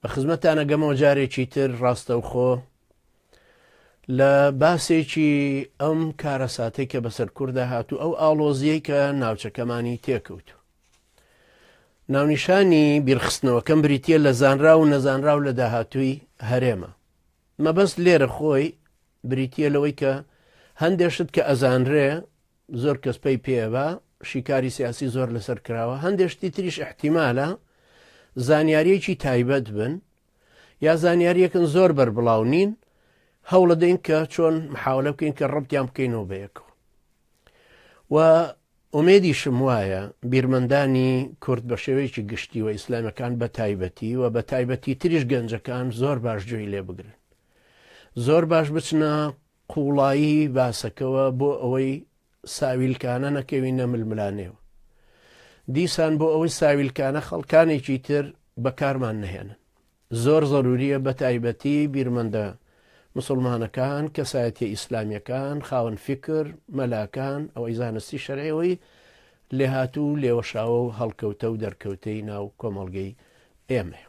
بە خزمەتان ئەگەمەوە جارێکی تر ڕاستەوخۆ لە باسێکی ئەم کارەساتەی کە بەسەر کووردا هاتوو ئەو ئاڵۆزیەی کە ناوچەکەمانی تێکەوت ناونیشانی بیرخستنەوەکەم بریتە لە زانرا و نەزانرا و لە داهاتووی هەرێمە مەبەست لێرە خۆی بریتە لەوەی کە هەندێشت کە ئەزانرێ زۆر کەس پەی پێ ئەبا شیکاری سیاسی زۆر لەسەر کراوە هەندێ شتی تریش احتیمالە زانیاریەکی تایبەت بن یا زانیاریەکن زۆر بەربڵاو نین هەوڵە دەین کە چۆن محاولە بکەین کە ڕبتیان بکەینەوە بەیەکەوە و ئومێدی شم وایە بیرمەندانی کورد بە شێوەیەکی گشتی و ئیسلامەکان بە تایبەتی و بە تایبەتی تریش گەنجەکان زۆر باش جوێی لێ بگرن زۆر باش بچنە قوڵایی باسەکەوە بۆ ئەوەی ساویلکانە نەکەوینە ململانێوە. دیسان بۆ ئەوەی ساویلکانە خەڵکانێکی تر بەکارمان نەهێنن. زۆر زەروریە بە تایبەتی بیرمەندە مسلمانەکان، کەسایەتیە ئیسلامیەکان، خاوەن فیکر، مەلاکان، ئەوەی زانستی شەرعیەوەی لێهاتوو و لێوەشاوە و هەڵکەوتە و دەرکەوتەی ناو کۆمەڵگەی ئێمەیە.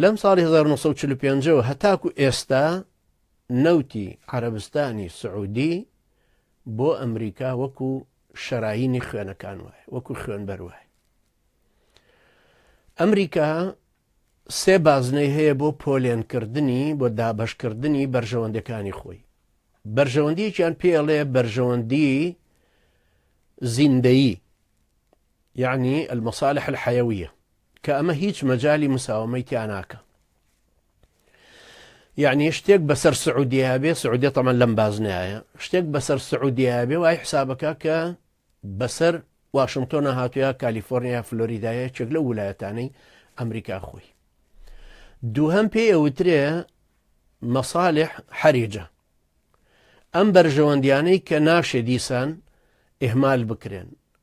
لەم ساڵی 1945 ەوە هەتاکو ئێستا نەوتی عەرەبستانی سعودی بۆ ئەمریکا وەکو شەراینی خوێنەکان وایە وەکو خوێنبەر وایە ئەمریکا سێ بازنەی هەیە بۆ پۆلێنکردنی بۆ دابەشکردنی بەرژەوەندەکانی خۆی بەرژەوەندیەکیان پێڵێ بەرژەوەندی زیندەیی یەعنی المصالح الحیویە کە ئەمە هیچ مەجالی مساوەمەی تیا ناکا یەعنی شتێک بەسەر سعودیە بێ سعودیە تەمەن لەم بازنایە شتێک بەسەر سعودیە بێ وای حسابەکە کە بەسەر واشنگتۆنە هاتووە کالیفۆرنیا فلۆریدایە چێک لە وولایەتانەی ئەمریکا خۆی دووهم پێ ئەوترێ مەساالح حەریجە ئەم بەرژەوەندیانەی کە ناشێ دیسان ئهمال بکرێن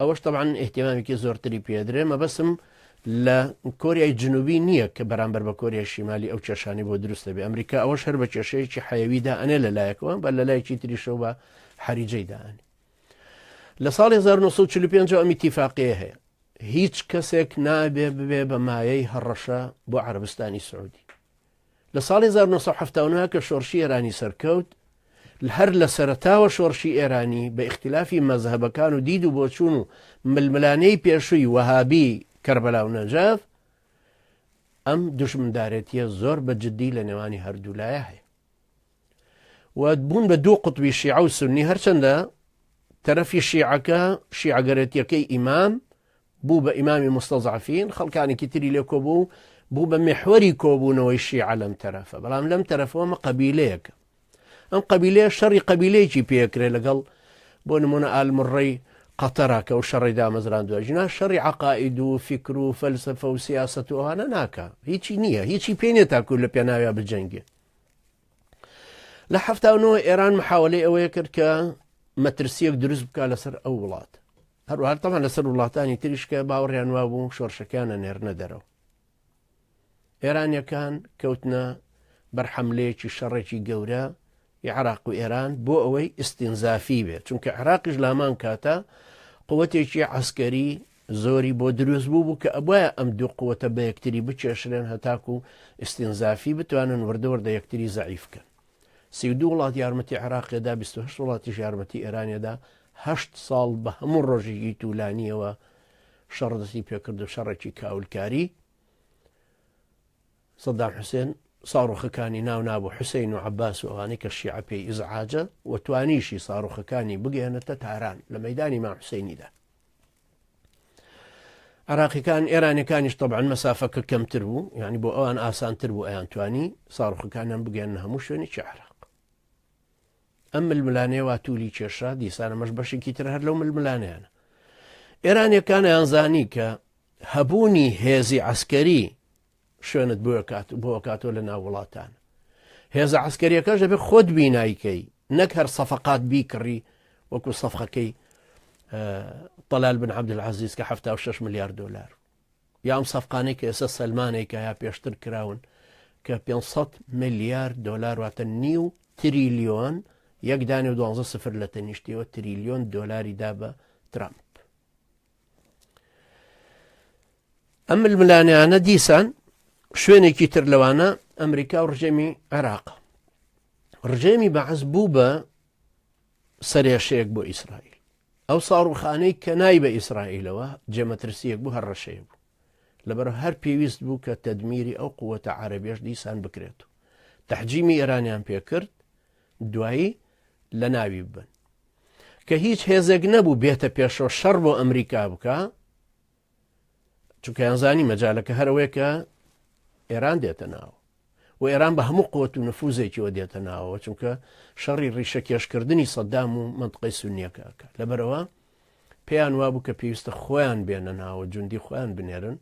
ئەوەش تەبعەن ئیهتیمامێکی زۆرتری پێ ئەدرێ، مەبەستم لە کۆریای جنوبی نییە کە بەرامبەر بە کۆریای شیمالی ئەو کێشانەی بۆ دروست دەبێ، ئەمریکا ئەوەش هەر بە کێشەیەکی حەیەوی دا ئەنێ لە لایەکەوە، بە لە لایەکی تریشەوە بە حەریجەی دا ئەنێ. لە ساڵی 1945 ەوە ئەم ئیتیفاقییە هەیە، هیچ کەسێک نابێ ببێ بە مایەی هەڕەشە بۆ عەرەبستانی سعوودی. لە ساڵی هەزار و نۆ سەد و حەفتا و نۆ کە شۆڕشی ئێرانی سەرکەوت، هەر لە سەرەتاوە شۆڕشی ئێرانی بە ئیختیلافی مەزهەبەکان و دید و بۆچوون و ململانێی پێشووی وەهابی کەربەلا و نەجەف، ئەم دوژمندارێتییە زۆر بە جددی لە نێوانی هەردوو لایە هەیە. و بوون بە دوو قوتبی شیعە و سونی هەرچەندە تەرەفی شیعەکە شیعگەرێتیەکەی ئیمام بوو بە ئیمامی مستەزعفین خەڵکانێکی تری لێ کۆبوو بوو بە محوەری کۆبوونەوەی شیعە لەم تەرەفە بەڵام لەم تەرەفەوەمە قبیلەیەکە ئەم قبیلەیە شەڕی قبیلەیەکی پێکرێ لەگەڵ بۆ نمونە ئالمڕی قەتەرا کە و شەڕی دامەزران دوای ژنا شەڕی عقائید و فکر و فەلسفە و سیاست و ئەوانە ناکە هیچی نییە هیچی پێ نیە تاکو لە پێناویا بجەنگێ لە هەفتا و نۆ ئێران محاولەی ئەوەیە کرد کە مەترسیەک دروست بکە لەسەر ئەو وڵات هەروهارتەمان لەسەر وڵاتانی تریشکە باوەڕیان وا بوو شۆرشەکانە نێرنە دەرەوە ئێرانیەکان کەوتنە بەرحەملەیەکی شەڕێکی گەورە عراق و ئێران بۆ ئەوەی ئستینزافی بێت چونکە عراقیش لامان کاتە قوتێکی عسکەری زۆری بۆ دروست بووبوو کە ئەبوایە ئەم دوو قوتە بە یەکتری بکێشرێن هەتاکوو ئیستینزافی بتوانن وردە وردە یەکتری زەعیف بکەن. سی و دوو وڵات یارمەتی عێراقێ دا، بیست و هەشت وڵاتیش یارمەتی ئێرانێ دا، هەشت ساڵ بە هەموو ڕۆژێکی توولانییەوە شەڕ دەستی پێ کرد و شەڕێکی کاولکاری سەدام حوسێن ساڕوخەکانی ناو نابوو حوسەین و عەباس و ئەوانەی کە شیعە پێی ئیزعاجە و توانیشی ساڕوخەکانی بگەیەنێتە تاران لە مەیدانی مام حوسەینیدا عراقیەکان ئێرانەکانیش طبعاان مەسافەکە کەمتر بوو یعنی بۆ ئەوان ئاسانتر بوو ئەیان توانی ساڕوخەکانیان بگەن هەموو شوێنی چ عراق ئەم ململانێوا تولی کێشا دیسانەمەش بەشێکی تر هەر لەو ململانیانە ئێرانەکانیان زانی کە هەبوونی هێزی عسکەری شوێنت بۆ کات بۆ کاتۆ لە ناو وڵاتان هێزە عسکەریەکەش دەبێت خۆت بینایکەی نەک هەر سەفقات بیکڕی وەکو سەفقەکەی طلال بن عبد العزیز کە 76 ملیار دلار یام سەفقانەی کە ئێستا سلمانێکە یا پێشتر کراون کە 500 ملیار دلار واتە نیو تریلیۆن یەکدانی و دوانزە سفر لە تەنیشتیەوە تریلیۆن دلاری دا بە ترامپ ئەم ململانیانە دیسان شوێنێکی تر لەوانە ئەمریکا و ڕژێمی عێراق ڕژێمی بەعز بوو بە سەرێشەیەک بۆ ئیسرائیل ئەو ساڕوخانەی کە نای بە ئیسرائیلەوە جێمەترسیەک بوو هەر ڕەشەیە بوو لەبەر هەر پێویست بوو کە تەدمیری ئەو قووەتە عربێش دیسان بکرێت و تحجیمی ئێرانیان پێکرد دوایی لە ناوی ببەن کە هیچ هێزێک نەبوو بێتە پێشەوە شەڕ بۆ ئەمریکا بکە چونکەیانزانی مەجالەکە هەرەوەی کە ئێران دێتە ناو و ئێران بە هەموو قوت و نفوزێکیەوە دێتە ناوەوە چونکە شەڕی ڕیشە کێشکردنی سەددام و منطقی سونیەکەکە لەبەرەوە پێیان وابوو کە پێویستە خۆیان بێنە ناوە جوندی خۆیان بنێرن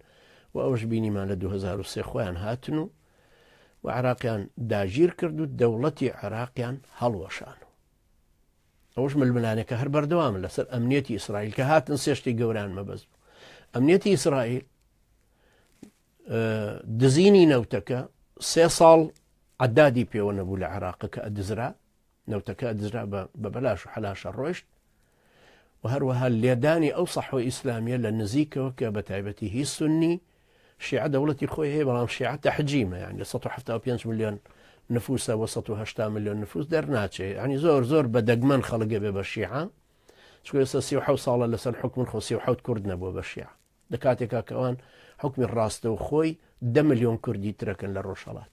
و ئەوش بینیمان لە 2023 خۆیان هاتن و و عێراقیان داگیر کرد و دەوڵەتی عێراقیان هەڵوەشان و ئەوەش ململانێکە هەر بەردەوامن لەسەر ئەمنیەتی ئیسرائیل کە هاتن سێشتی گەوران مەبەست بوو ئەمنیەتی ئیسرائیل دزینی نەوتەکە سێ ساڵ عدادی پێوە نەبوو لە عێراق کە ئەدزرا نەوتەکە دزرا بە بە بەلاش و حەلاشە ڕۆشت و هەروەها لێدانی ئەو سەحوە ئیسلامیە لە نزیکەوە کە بە تایبەتی هی سنی شیعە دەوڵەتی خۆی هەیە بەڵام شیعە تەحجیمە یان لە 1970 میلیۆن نفوسە بۆ 1970 میلیۆن نفوس دەرناچێ ینی زۆر زۆر بە دەگمەن خەڵگە بێ بە شیعە چکۆسە سی حو ساڵە لەسەر حکومن خۆ سی حوت کورد نەبووە بە شیعە لە کاتێکا کەوان حکومی ڕاستە و خۆی دە میلیۆن کوردی ترەکەن لە ڕۆژهڵات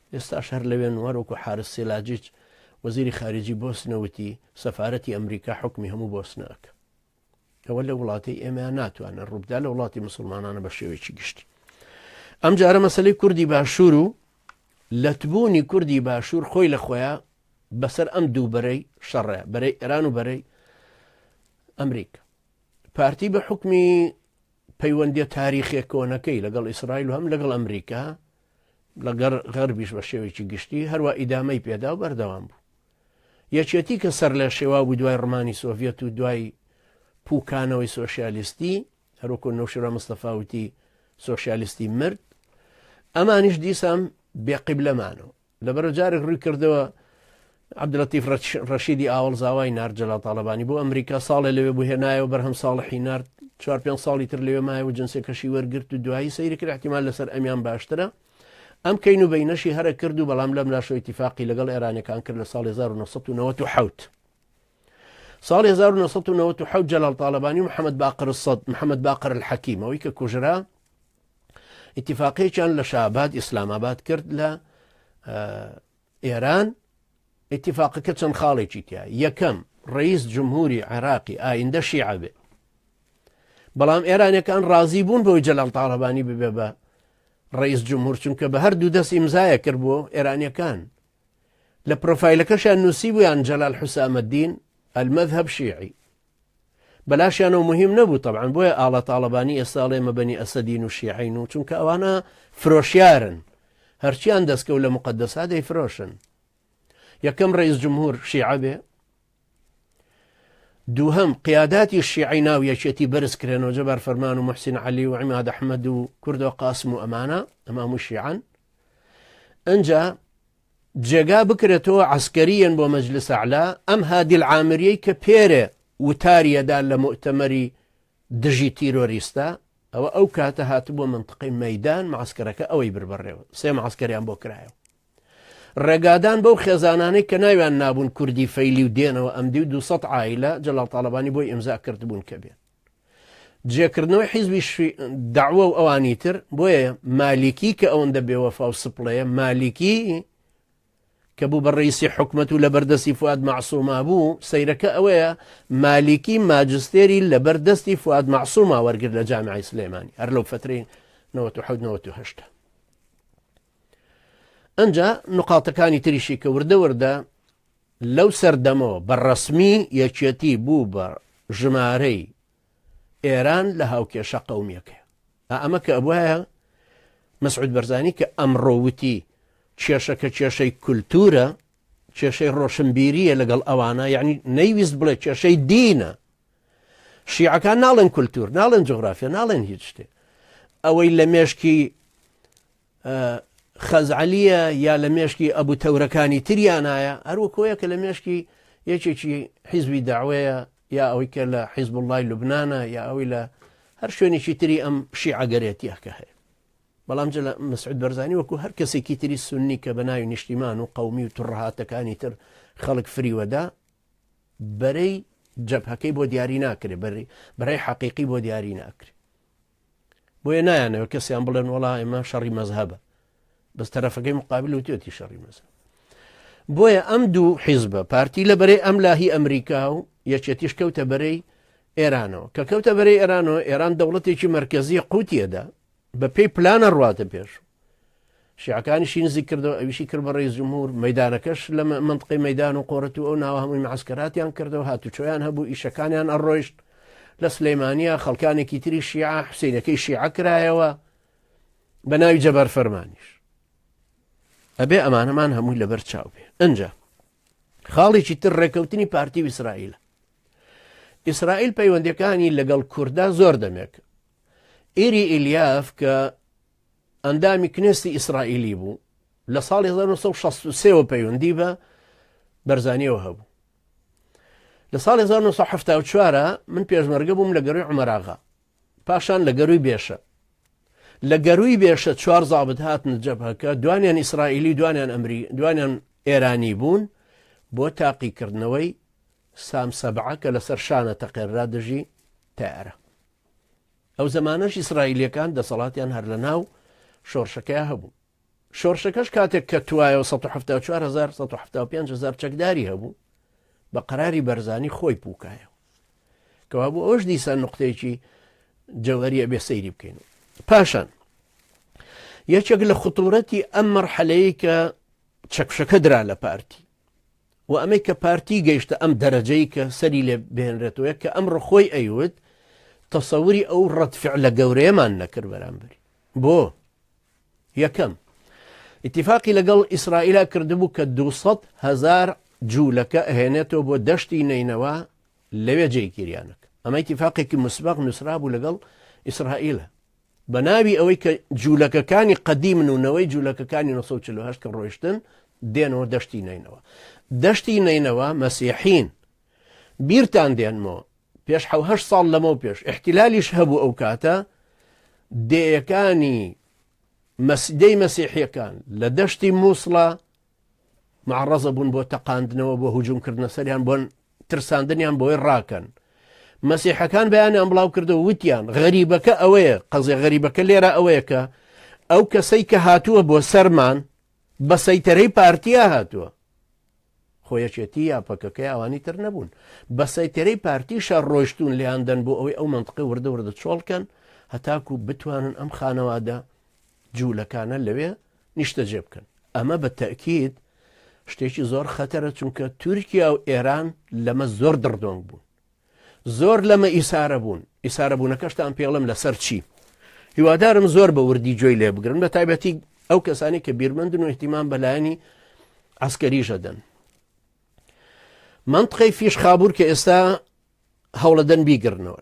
ئێستاش هەر لەوێن وەروەکو حارس سیلاجیچ وەزیری خارجی بۆسنە وتی سەفارەتی ئەمریکا حوکمی هەموو بۆسنە ئەکا ئەوە لە وڵاتی ئێمەیان ناتوانن ڕووبدا لە وڵاتی مسلمانانە بە شێوەیەکی گشتی ئەم جارە مەسلەی کوردی باشوور و لەتبوونی کوردی باشوور خۆی لە خۆیان بەسەر ئەم دوو بەرەی شەڕە بەرەی ئێران و بەرەی ئەمریک پارتی بە حکمی پەیوەندی تاریخێک کۆنەکەی لەگەڵ ئیسرائیل و هەم لەگەڵ ئەمریکا لەگەر غەربیش بە شێوەیەکی گشتی هەروە ئیدامەی پێدا و بەردەوام بوو یەکێتی کە سەر لە شێوا بوو دوای ڕمانی سۆڤەت و دوای پوکانەوەی سۆسیالیستی هەروکو نەوشرا مستەفاوتی سۆسیالیستی مرد ئەمانیش دیسان بێقیب لەمانەوە لەبەرە جارێک ڕووی کردەوە عبدلتیف ڕەشیدی ئاوەڵ زاوای نرد جەلا تاالبانی بۆ ئەمریکا ساڵێ لەوێ بوو هێنایەوە بەرهەم ساڵحی نرد چوار پێ ساڵی تر لەوێ مایە و جنسێک کەشی وەرگرت و دوایی سەیری کرد احتیمال لەسەر ئەمیان باشترە ئەم کەین و بینەشی هەرە کرد و بەڵام لەم لاشۆ اتفاقی لەگەڵ ئێرانەکان کرد لە ساڵ 1990 ساڵ 1990 جەلال تاالبانی و محەممەد باقر سەد محەممەد باقر الحەکیمەوەی کە کوژرا ئیتیفاقێکیان لە شاباد ئیسلام ئاباد کرد لە ئێران ئیتیفاقەکە چەند خاڵێکی تیا یەکەم ڕئیس جمهوری عێراقی ئایندە شیعبێ بەڵام ئێرانەکان ڕازی بوون بۆی جەلال تاالبانی ببێ بە ڕئیس جمهور چونکە بە هەردوو دەست ئیمزایە کرد بۆ ئێرانەکان لە پرۆفایلەکەشیان نووسی بوویان جەلال حوسامەدین ئەلمەذهب شیعی بەلاشیانەوە موهیم نەبوو تەبعەن بۆیە ئاڵا تاڵەبانی ئێستا ئەڵێ ئێمە بەنی ئەسەدین و شیعەین و چونکە ئەوانە فرۆشیارن هەرچیان دەستکەوت لە مقدسا دەیفرۆشن یەکەم ڕئیس جمهور شیعە بێ دووهم قیاداتی شیعی ناو یەکێتی بەرز کرێنەوە جەبار فەرمان و محسین علی و عیماد ئەحمد و کوردەوە قاسم و ئەمانە ئەمام و شیعان ئەجا جێگا بکرێتەوە عەسکەریەن بۆ مەجلس ئەعلا ئەم هادی العامریەی کە پێرێ وتاریەدا لە موئتەمەری دژی تیرۆریستە ئەوە ئەو کاتە هاتبووە منتقەی مەدان معسکەرەکە ئەوەی بربڕێەوە سێ معسکەریان بۆ کرایەوە ڕێگادان بەو خێزانانەی کە ناویان نابوون کوردی فەیلی و دێنەوە ئەم دی و 200 ئایلە جەڵاڵ تاالبانی بۆی ئمزا کردبوون کە بێت جێکردنەوەی حیزبی شی دەعوە و ئەوانی تر بۆیە مالیکی کە ئەوەندە بێوەفا و سپڵەیە مالیکی کە بوو بە ڕیسی حکومت و لە بەردەستی فواد معسوما بوو سەیرەکە ئەوەیە مالیکی ماجستێری لە بەردەستی فواد معسوما وەرگر لە جامعی سلێمانی هەر لەو فتری 1970 ئەجا نقاتەکانی تریشی کە وردە وردە لەو سەردەمەوە بە ڕەسمی یەکێتی بوو بە ژمارەی ئێران لە هاوکێشە قەومیەکەی ئا ئەمە کە ئەبواە مەسعود بەرزانی کە ئەمڕۆ وتی کێشەکە کێشەی کولتورە کێشەی ڕۆشنبیریە لەگەڵ ئەوانە یعنی نەیویست بڵێ کێشەی دینە شیعەکان ناڵێن کولتور ناڵێن جغرافیا ناڵێن هیچ شتێ ئەوەی لە مێشکی خەزعەلییە یا لە مێشکی ئەبو تەورەکانی تریانایە هەر وەکۆیە کە لە مێشکی یەکێکی حیزبی داوەیە یا ئەوەی کە لە حیزب وڵی لوبناە یا ئەوی لە هەر شوێنێکی تری ئەم شیعگەرێتیەکە هەیە بەڵام جل مسعود بەرزانی وەکو هەر کەسێکی تری سنی کە بە ناوی نیشتیمان و قومی و توڕهاتەکانی تر خەڵک فریوەدا بەرەی جەبهەکەی بۆ دیاری ناکرێ بەری بەرەی حەقیقی بۆ دیاری ناکرێ بۆیە نایانەوە کەسیان بڵێن وڵا ئێمە شەڕی مەزهبە بەس تەرەفەکەی مقابل و تێتی شەڕی مەزە بۆیە ئەم دوو حیزبە پارتی لە بەرەی ئەم لاهی ئەمریکا و یەکێتیش کەوتە بەرەی ئێرانەوە کە کەوتە بەرەی ئێرانەوە ئێران دەوڵەتێکی مرکزی قوتیەدا بە پێی پلانە ڕاتە پێش شیعەکانیشی نزیک کردەوە ئەویشی کرد بە ڕێز جمهور مەدانەکەش لە منطقی مەدان و قۆرەت و ئەو ناوە هەمووی معسکراتیان کردەوە هاتوچۆیان هەبوو ئیشەکانیان ئەڕۆیشت لە سلەیمانە خەڵکانێکی تری شیعە حوسینەکەی شیعە کرایەوە بە ناوی جەبار فەرمانیش ئەبێ ئەمانەمان هەمووی لەبەر چاو بێ ئەجا خاڵێکی تر ڕێکەوتنی پارتی و ئیسرائیل ئیسرائیل پەیوەندەکانی لەگەڵ کووردا زۆر دەمێک ئێری ئیلیاف کە ئەندامی کنێستی ئیسرائیلی بوو لە ساڵی 1963 وە پەیوەندی بە بەرزانیەوە هەبوو لە ساڵی 1970 من پێشمەرگە بووم لە گەروی عمەراغا پاشان لە گەروی بێشە لە گەروی بێشە چوار زابت هاتن جەبهەکە دوانیان ئیسرائیلی دوانیان ئەمری دوانیان ئێرانی بوون بۆ تاقیکردنەوەی سام سەبعە کە لەسەر شانە تەقێررا دژی تارە ئەو زەمانەش ئیسرائیلیەکان دەسەڵاتیان هەر لە ناو شۆڕشەکەیا هەبوو. شۆڕشەکەش کاتێک کەتوایەوە سەد و حەفتا و چوار هەزار سەد و حەفتا و پێنج هەزار چەکداری هەبوو بە قەراری بەرزانی خۆی پووکایەوە. کەوا بوو ئەوش دیسان نقطەیەکی جەوەریە بێ سەیری بکەین و. پاشان یەکێک لە خطورەتی ئەم مەرحەلەیە کە چەکفشەکە درا لە پارتی وە ئەمەی کە پارتی گەیشتە ئەم دەرەجەی کە سەری لێ بێنرێتەوە کە ئەمڕۆ خۆی ئەیوت تەسەوری ئەو ڕەتفعلە گەورەیەمان نەکرد بەرامبەری بۆ یەکەم اتفاقی لەگەڵ ئیسرائیلا کردبوو کە 200 هزار جوولەکە ئەهێنێتەوە بۆ دەشتی نینەوە لەوێ جێگیریانەکە ئەمە اتفاقێکی مسبق نووسرابوو لەگەڵ ئیسرائیلە بە ناوی ئەوەی کە جوولەکەکانی قەدیمن و نەوەی جوولەکەکانی 1940 کە ڕۆیشتن دێنەوە دەشتی نەینەوە دەشتی نەینەوە مەسیحین بیرتان دێنمەوە پێش حوهه ساڵ لەمە و پێش احتیلالیش هەبوو ئەو کاتە دێیەکانی مەسیدەی مەسیحیەکان لە دەشتی مووسڵە معەڕەزە بوون بۆ تەقاندنەوە بۆ هجووم کردنە سەریان بۆن ترساندنیان بۆی ڕاکەن مەسیحەکان بەیانیان بڵاو کردەوە وتیان غەریبەکە ئەوەیە قەزێ غەریبەکە لێرە ئەوەیە کە ئەو کەسەی کە هاتووە بۆ سەرمان بە سەیتەرەی پارتیا هاتووە خۆیەکێتی یا پەکەکەی ئەوانی تر نەبوون بە سەیتەرەی پارتی شار ڕۆشتون لیاندەن بۆ ئەوەی ئەو منطقی وردە وردە چۆڵکەن هەتاکو بتوانن ئەم خانەوادە جوولەکانە لەوێ نیشتەجێ بکەن، ئەمە بە تەئکید شتێکی زۆر خەتەرە، چونکە تورکیا و ئێران لەمە زۆر دڕدۆنگ بوون، زۆر لەمە ئیسارە بوون، ئیسارەبوونەکەشتان پێڵێم لەسەر چی؟ هیوادارم زۆر بە وردی گوێی لێ بگرن بە تایبەتی ئەو کەسانی کە بیرمەندن و احتیمان بەلایەنی عسکەریشە دەن منطقەی فیش خابور کە ئێستا هەوڵەدەن بیگرنەوە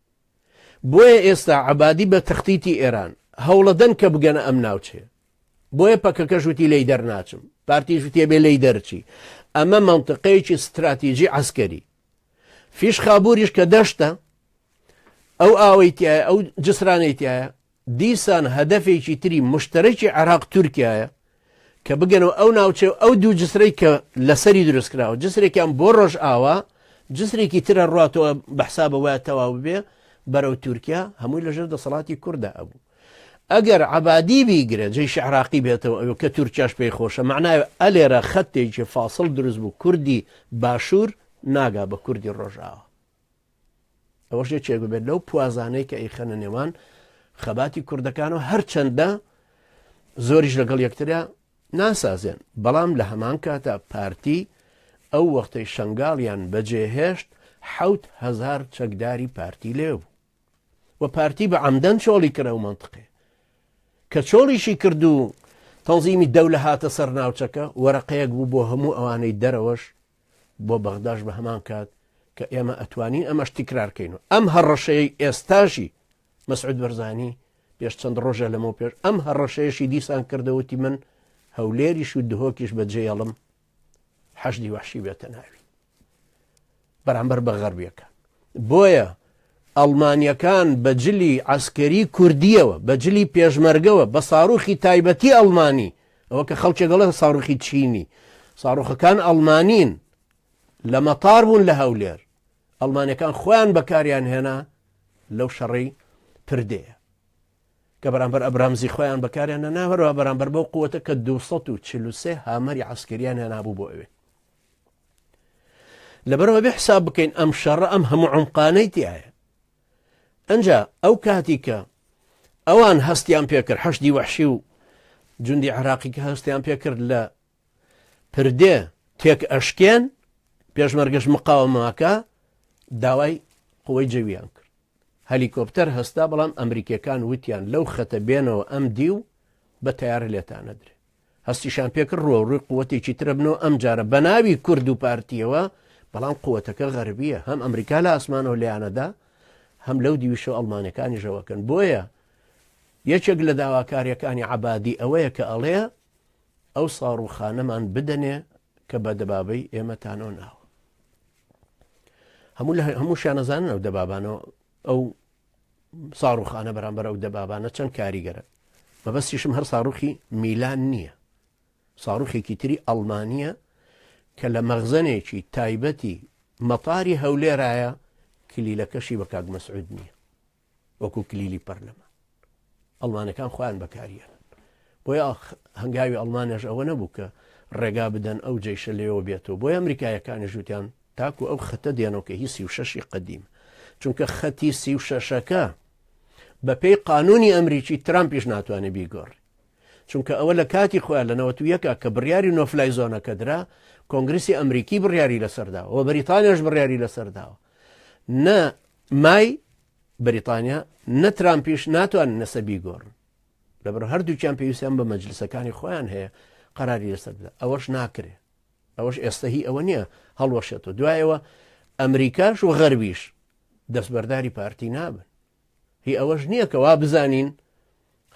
بۆیە ئێستا عەبادی بە تەختیتی ئێران هەوڵەدەن کە بگەنە ئەم ناوچەیە بۆیە پەکەکەش وتی لێی دەرناچم پارتیش وتێ بێ لێی دەرچی ئەمە مەنتقەیەکی ستراتیژی عسکەری فیش خابووریش کە دەشتە ئەو ئاوەی تایە ئەو جسرانەی تایە دیسان هەدەفێکی تری مشتەرەکی عێراق تورکیایە کە بگەنەوە ئەو ناوچەی و ئەو دوو جسرەی کە لەسەری دروستکراوە جسرێکیان بۆ ڕۆژئاوا جسرێکی ترە ڕاتەوە بەحسابە وایە تەواو بێ بەرەو تورکیا هەمووی لەژێر دەسەڵاتی کووردا ئەبوو ئەگەر عبادی بیگرە جێ شعراقی بێتەوە ئەو کە تورکیاش پێی خۆشە معناوە ئەلێرە خەتێکی فاصل دروست بوو کوردی باشوور ناگا بە کوردی ڕۆژاوە ئەوەش یەکێک ببێت لەو پوازانەی کە ئەیخەنە نێوان خەباتی کوردەکان و هەرچەندە زۆریش لەگەڵ یەکترە ناسازێن بەڵام لە هەمان کاتە پارتی ئەو وەختەی شنگاڵیان بەجێهێشت حوت هزار چەکداری پارتی لێ بوو و پارتی بە ئەمدەن چۆڵی کرە و منطقێ کە چۆڵیشی کرد و تەنزیمی دەولە هاتە سەر ناوچەکە وەرەقەیەک بوو بۆ هەموو ئەوانەی دەرەوەش بۆ بەغداش بە هەمان کات کە ئێمە ئەتوانین ئەمەش تیکرار کەین و ئەم هەڕەشەیەی ئێستاشی مەسعود بەرزانی پێش چەند ڕۆژە لەمەو پێش ئەم هەڕەشەیەشی دیسان کردەوتی من هەولێریش و دهۆکیش بەجێڵم حەشدی وحشی بێتە ناوی بەرامبەر بە غەربیەکان بۆیە ئەڵمانیەکان بە جلی عەسکەری کوردیەوە، بە جلی پێشمەرگەوە، بە ساروخی تایبەتی ئەڵمانی، ئەوە کە خەڵکێک دەڵێت ساروخی چینی، ساروخەکان ئەڵمانین، لە مەتار بوون لە هەولێر، ئەڵمانیەکان خۆیان بەکاریان هێنا لەو شەڕەی پردێیە. کە بەرامبەر ئەبرامزی خۆیان بەکاریان نەناوەرەوە بەرامبەر بەو قووەتە کە 243 هامەری عسکریان هێنابوو بۆ ئەوێ لەبەر ئەوە بێ حساب بکەین ئەم شەڕە ئەم هەموو عمقانەی تایە ئەجا ئەو کاتی کە ئەوان هەستیان پێکرد حەشدی وەحشی و جوندی عراقی کە هەستیان پێکرد لە پردێ تێک ئەشکێن پێشمەرگەش مقاومەکە داوای قوی جەویان کرد هەلیکۆپتەر هەستا بەڵام ئەمریکیەکان وتیان لەو خەتە بێنەوە ئەم دی و بە تیار لێتانەدرێت هەستیشان پێکرد روەوڕوی قوتێکی ترە بنەوە ئەمجارە بەناوی کورد و پارتیەوە، بەڵام قوتەکە غەربیە هەم ئەمریکا لە ئاسمانەوە لێیانەدا هەم لەو دیویشەوە ئەڵمانەکانیشەوە کەن بۆیە یەکێک لە داواکاریەکانی عەبادی ئەوەیە کە ئەڵێ ئەو ساڕوخانەمان بدەنێ کە بە دەبابەی ئێمەتانەوە ناوە هەموو لە هەموو شانەزانن ئەو دەبابانەوە ئەو ساڕوخانە بەرامبەر ئەو دەبابانە چەند کاریگەرە، مەبەستیشم هەر ساڕوخی میلان نییە، ساڕوخێکی تری ئەڵمانییە کە لە مەخزەنێکی تایبەتی مەتاری هەولێرایە، کلیلەکەشی بە کاک مەسعود نییە، وەکو کلیلی پەرلەمان. ئەڵمانەکان خۆیان بەکاریەنن بۆی ئاخ هەنگاوی ئەڵمانەش ئەوە نەبوو کە ڕێگا بدەن ئەو جیشە لێەوە بێتەوە بۆی ئەمریکایەکانی ژووتیان تاکو ئەو خەتە دێنەوە کە هی سی و شەشی قدیم چونکە خەتی سی و شەشەکە بەپێی قانونی ئەمریکی ترامپیش ناتوانێت بیگۆڕ چونکە ئەوە لە کاتی خۆیان لە نەوەتو یەکە کە بڕیاری نۆفلای زۆنەکە درا کۆنگریسی ئەمریکی بڕیاری لەسەرداوە بەریتانیش بڕیاری لەسەرداوە نە مای بەریتانیا نە ترامپیش ناتوان نەسە بیگۆڕن لەبەر هەردووکیان پێویستیان بە مەجلسەکانی خۆیان هەیە قەراری لەسەر بدە ئەوەش ناکرێ ئەوەش ئێستا هی ئەوە نییە هەڵوەشێتەوە دوایەوە ئەمریکاش و غەرویش دەستبەرداری پارتی نابن هی ئەوەش نییە کە وا بزانین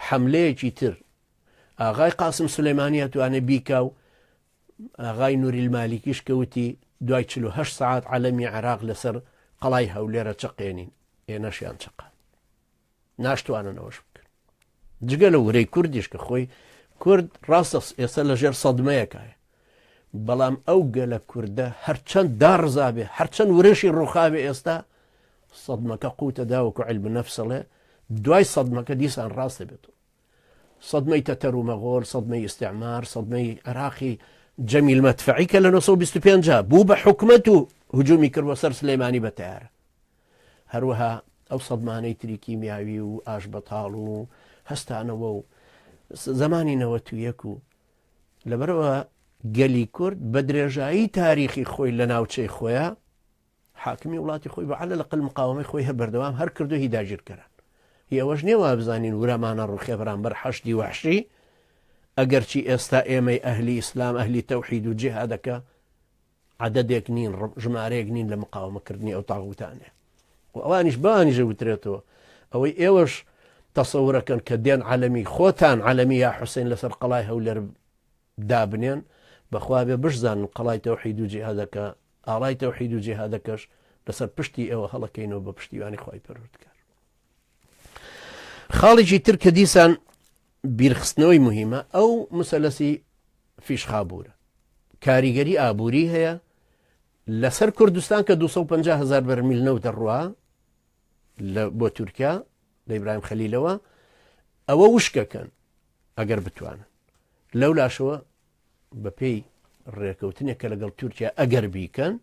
حملەیەکی تر ئاغای قاسم سلەیمانە توانێت بیکا و ئاغای نوریل مالیکیش کە وتی، دوای چل و هەشت سەعات عەلەمی عێراق لەسەر قەڵای هەولێر ئەچەقێنین، ئێنەشیان چەقاند. ناشتوانن ئەوەش بکەن. جگە لە ورەی کوردیش کە خۆی کورد ڕاستە ئێستا لەژێر سەدمەیەکایە. بەڵام ئەو گەلە کوردە هەرچەند داڕزابێ، هەرچەند ورەشی ڕووخاوێ ئێستا سەدمەکە قووتە داوەکو عیلم نەفس ئەڵێ دوای سەدمەکە دیسان ڕاست دەبێتەوە. سەدمەی تەتەر و مەغۆل، سەدمەی ئیستیعمار، سەدمەی عێراقی جەمیل مەدفەعی کە لە نۆ سەد و بیست و پێنج بوو بە حکومەت و هجوومی کرد بۆ سەر سلێمانی بە تەیارە. هەروەها ئەو سەدمانەی تری کیمیاوی و ئاشبەتاڵ و هەستانەوە و زمانی نەوەت و یەک و لەبەرەوە گەلی کورد بە درێژایی تاریخی خۆی لە ناوچەی خۆیە حاکمی وڵاتی خۆی بە عەلە لەقەل مقاوەمەی خۆی هە بەردەوام هەر کردوە هی داگیرکەران هی ئەوەش نیە وابزانین ورەمان نەڕوخێ بەرامبەر حەشدی وەحشی ئەگەرچی ئێستا ئێمەی ئەهلی ئیسلام ئەهلی تەوحید و جیهادەکە عەدەدێک نین ژمارەیەک نین لە مقاومەکردنی ئەو تاغوتانێ و ئەوانیش بانیژە وترێتەوە ئەوەی ئێوەش تەسەورەکەن کە دێن عالەمی خۆتان عالەمی یا حوسین لەسەر قەڵای هەولێر دابنێن بەخوا ئەبێ بشزانن قەڵای تەوحیدو جیهادەکە ئاڵای تەوحیدو جیهادەکەش لەسەر پشتی ئێوە هەڵەکەینەوە بە پشتیوانی خوای پەروەردگار خاڵێکی تر کە دیسان بیرخستنەوەی مهمە ئەو مسەلەسی فیشخابورە کاریگەری ئابووری هەیە لەسەر کوردستان کە 250 هزار بەرمیل نەوت دەڕوا بۆ تورکیا لە ئیبراهیم خەلیلەوە ئەوە وشکەکەن ئەگەر بتوانن. لەو لاشەوە بە پێی ڕێکەوتنێک کە لەگەڵ تورکیا ئەگەر بیکەن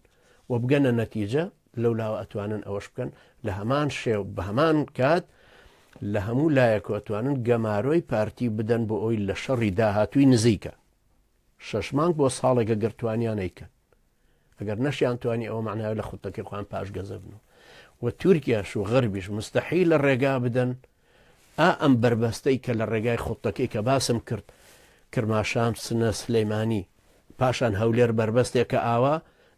و بگەنە نەتیجە لەو لاوە ئەتوانن ئەوەش بکەن لە هەمان شێو بە هەمان کات لە هەموو لایەکە ئەتوانن گەمارۆی پارتی بدەن بۆ ئەوی لە شەڕی داهاتووی نزیکە شەش مانگ بۆ ساڵێکە گەرتوانیانەیکەن ئەگەر نەشیان توانی ئەوە معناوی لە خوتەکەی خۆیان پاشگەزەبن و و تورکیاش و غەربیش مستەحی لە ڕێگا بدەن ئا ئەم بەربەستەی کە لە ڕێگای خوڵتەکەی کە باسم کرد، کرماشان، سنە، سلیمانی، پاشان هەولێر بەربەستێکە ئاوا،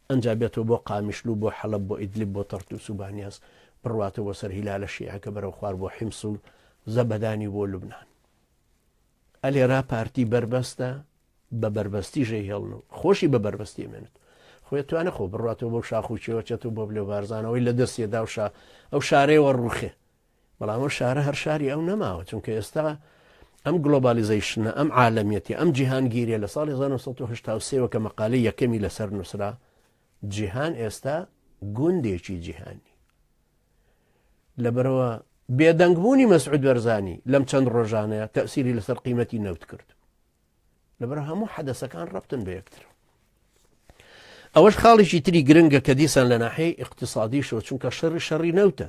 ئەنجا بێتەوە بۆ قامیشلو، بۆ حەڵەب، بۆ ئیدلب، بۆ تەرتوس و بانیاس، بڕواتەوە بۆ سەر هیلالە شیعەکە بەرەو خوار بۆ حیمس و زەبەدانی و بۆ لوبنان. ئە لێرا پارتی بەربەستە بە بەربەستی ژێ هێڵن و خۆشی بە بەربەستی ئەمێنێت و خۆی توانێ خۆ بڕواتەوە بۆ شاخ و چێوە چێت و بۆ بلێ و بارزانەوەی لە دەستیەدا و شا ئەو شارەیەوە ڕووخێ. بەڵام ئەو شارە هەر شاری ئەو نەماوە چونکە ئێستا ئەم گلۆبالیزەیشنە ئەم عالەمیەتی ئەم جیهانگیریە لە ساڵی 1970 کە مەقالەی یەکەمی لەسەر نووسرا جیهان ئێستا گوندێکی جیهانی لەبەرەوە بێدەنگبوونی مەسعود بەرزانی لەم چەند ڕۆژانەیە تەسیری لەسەر قیمەتی نەوت کرد لەبەر هەموو حەدەسەکان ڕەتن بە یەکتر ئەوەش خاڵێکی تری گرنگە کە دیسان لە ناحەی اقتصادیشەوە چونکە شەڕی شەڕی نەوتە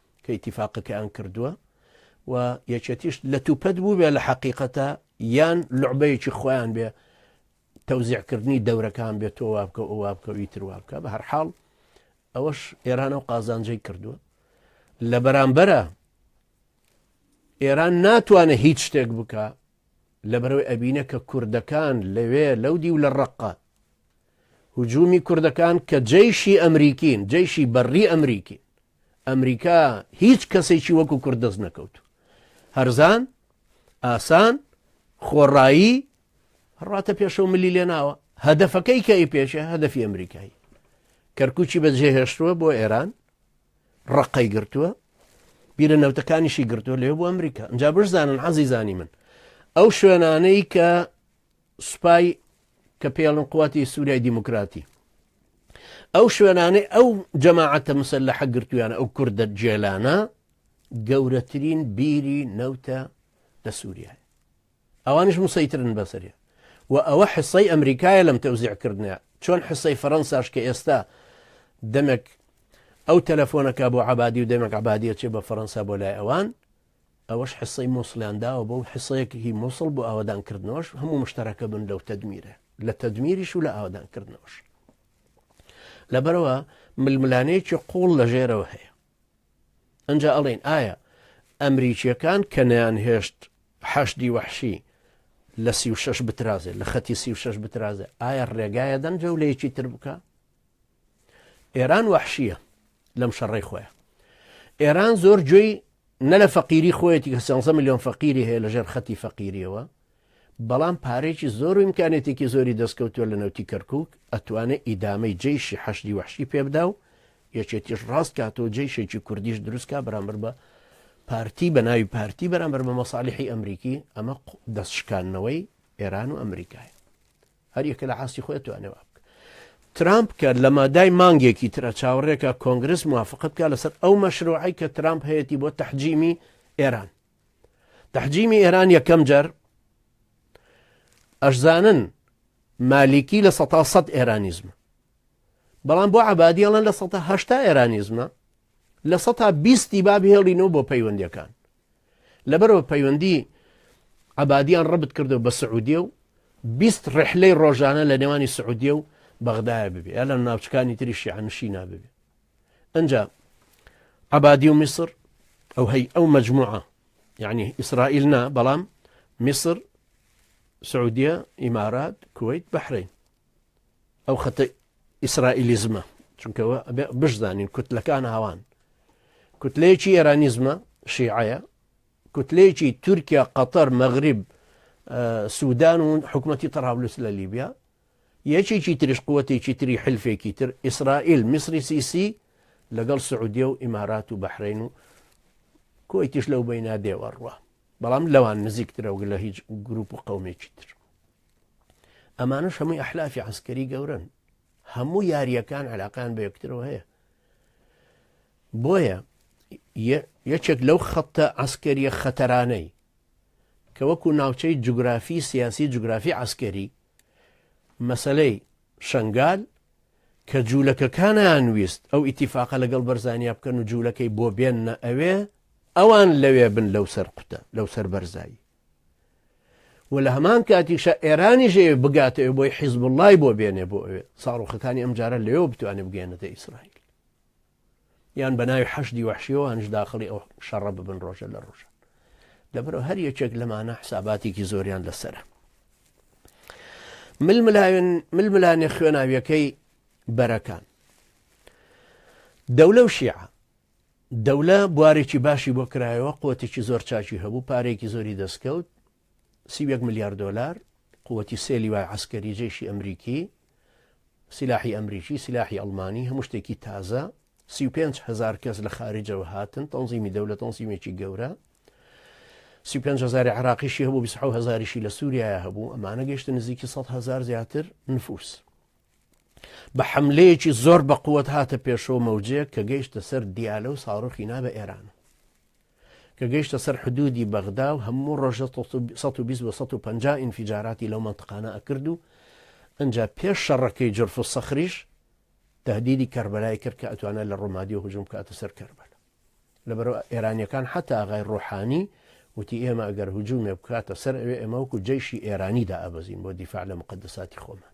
کە ئیتیفاقەکەیان کردووە و یەکێتیش لەتوپەت بووبێ لە حەقیقەتە یان لعبەیەکی خۆیان بێ تەوزیعکردنی دەورەکان بێت تۆ وابکە و وابکەوی تروابکە بە هەرحاڵ ئەوەش ئێرانە و قازانجەی کردووە لە بەرامبەرە ئێران ناتوانێت هیچ شتێک بکە لە بەرەوەی ئەبینە کە کوردەکان لەوێ لەو دی و لە ڕقە هجومی کوردەکان کە جەیشی ئەمریکین جەیشی بەڕی ئەمریکی ئەمریکا هیچ کەسێکی وەکو کورد دەست نەکەوتو هەرزان ئاسان خۆڕایی ڕاتە پێشەوە ملی لێناوە هەدەفەکەی کە ئی پێشە هەدەفی ئەمریکایی کەرکوچی بەجێهێشتووە بۆ ئێران ڕقەی گرتووە بیرە نەوتەکانیشی گرتووە لێ بۆ ئەمریکا ئەجا بشزانن عزیزانی من ئەو شوێنانەی کە سوپای کە پێڵن قوتی سوریای دیموکراتی ئەو شوێنانەی ئەو جەماعەتە مسەر لە حەگرتویانە ئەو کوردە جێلانە گەورەترین بیری نەوتە لە سووریای ئەوانش مسەیترن بەسەری و ئەوە حسەی ئەمریکایە لەم تەوزیعکردنە چۆن حسەی فەەنساش کە ئێستا دەمێک ئەو تەلەفۆنەکە بۆ عبادی و دەمێک عبادیە چێ بە فەەنسا بۆ لای ئەوان ئەوەش حصەی موصڵیان داوە بەو حصەیەک هی موصڵ بۆ ئاوەدان کردنەوەش هەموو مشترەکە بن لەو تەدمیرە لە تەدمیریش و لە ئاوەدان کردنەوەش لەبەرەوە ململانێکی قوڵ لە ژێرەوە هەیە ئەجا ئەڵێن ئایا ئەمریکیەکان کە نیان هێشت حەشدی وەحشی لە سی و شش بترازێ لە خەتی سی و شش بترازێ ئایا ڕێگایە دەن جەولەیەکی تر بکە ئێران وەحشیە لەم شەڕی خۆیە ئێران زۆر گوێی نە لە فەقیری خۆیەتی کە سیانزە میلیۆن فەقیری هەیە لەژێر خەتی فەقیریەوە بەڵام پارێکی زۆر و امکانێتێکی زۆری دەستکەوتووە لە نەوتی کەرکک ئەتوانێت ئیدامەی جیشی حەشدی وحشی پێبدا و یەکێتیش ڕاست کاتەوە جیشێکی کوردیش دروستکە بەرامبەر بە پارتی بە ناوی پارتی بەرامبەر بە مەساالحی ئەمریکی ئەمە دەستشکانەوەی ئێران و ئەمریکای هەر یەکە لە ئاستی خۆی ئەتوانێ وا بکا. ترامپ کە لە مادای مانگێکی ترە چاوەڕێکە کۆنگرس موافقە بکا لەسەر ئەو مەشروعەی کە ترامپ هەیەتی بۆ تەحجیمی ئێران. تەحجیمی ئێران یەکەم جار ئەشزانن مالیکی لە سەتا سەد ئێرانیزمە. بەڵام بۆ عبادی ئەڵەن لە سەتا هەشتا ئێرانیزمە لە سەتا بیستی باب هێڵینەوە بۆ پەیوەندەکان. لەبەرئەوە پەیوەندی عەبادیان ڕەبت کردو بە سعودیە و بیست ڕحلەی ڕۆژانە لە نێوانی سعودیە و بەغدایە ببێ یا لە ناوچکانی تری شیعنشی نابێ ئەجا عبادی و میسر ئەو هەی ئەو مجموعە یعنی ئیسرائیل نا بەڵام میسر سعودیە ئیمارات کویت بەحرین ئەو خەتە ئیسرائیلیزمە چونکە بشزانین کوتلەکان هاوان کوتلەیەکی ئێرانیزمە شیعەیە کوتلەیەکی تورکیا قەتەر مەغریب سوودان و حکوومەتتی تەڕاولوس لە لیبیا یەکێکی تریش قوتێکی تری حلفێکی تر ئیسرائیل میسری سیسی لەگەڵ سعودیە و ئیمارات و بەحرین و کۆیتیش لەو بینادێوە ڕوە بەڵام لەوان نزیکترەوە لە هیچ گروپ و قومێکی تر ئەمانەش هەمووی ئەحلافی عسکەری گەورن هەموو یاریەکان علاقیان بە یەکترەوە هەیە بۆیە یەکێک لەو خەتە ئەسکەریە خەتەرانەی کە وەکو ناوچەی جوگرافی سیاسی جوگرافی عسکەری مەسلەی شنگال کە جوولەکەکانیان ویست ئەو ئیتیفاقە لەگەڵ بەرزانیا بکەن و جوولەکەی بۆ بێنە ئەوێ ئەوان لەوێ بن لەو سەر قوتە لەو سەر بەرزایی و لە هەمان کاتیشە ئێرانیش ئەوێ بگاتەوێ بۆی حیزب اللهی بۆ بێنێ بۆ ئەوێ ساڕۆخەکانی ئەم جارە لەوێ بتوانێت بگەێنێتە ئیسرائیل یان بە ناوی حەشدی وحشیەوەانش داخڵی ئەو شەڕە ببن ڕۆژە لە ڕۆژە لەبەرەوە هەر یەکێک لەمانە حساباتێکی زۆریان لەسرە ململاوێن ململانێ خوێناویەکەی بەرەکان دەولە و شیعە دەولە بوارێکی باشی بۆ کرایەوە، قوتێکی زۆر چاکی هەبوو، پارەیەکی زۆری دەستکەوت، سی و یەک ملیار دۆلار، قوتی سێ لیوای عەسکەری، جەیشی ئەمریکی، سیلاحی ئەمریکی، سیلاحی ئەڵمانی، هەموو شتێکی تازە، سی و پێنج هەزار کەس لە خارجەوە هاتن، تەنزیمی دەولە تەنزیمێکی گەورە، سی و پێنج هەزاری عراقیشی هەبوو، بیست و حەوت هەزاریشی لە سووریایە هەبوو، ئەمانە گەیشتە نزیکی سەد هەزار زیاتر نفوس. بە حەملەیەکی زۆر بە قووەت هاتە پێشەوە مەوجەیەک کە گەیشتە سەر دیالە و ساڕۆخی نابە ئێران کە گەیشتە سەر حدودی بەغدا و هەموو ڕۆژە 150 ئینفیجاراتی لەو منتقانە ئەکرد و ئەجا پێش شەڕەکەی جرف و سەخریش تهدیدی کەربەلای کرد کە ئەتوانە لە ڕۆمادی و هجوم کاتە سەر کەربەل لەبەر ئێرانیەکان حتا ئاغای ڕۆحانی وتی ئێمە ئەگەر هجوومێ بکاتە سەر ئەوێ ئەمەوەکو جەیشی ئێرانی دا ئەبەزین بۆ دیفاع لە مقدساتی خۆمان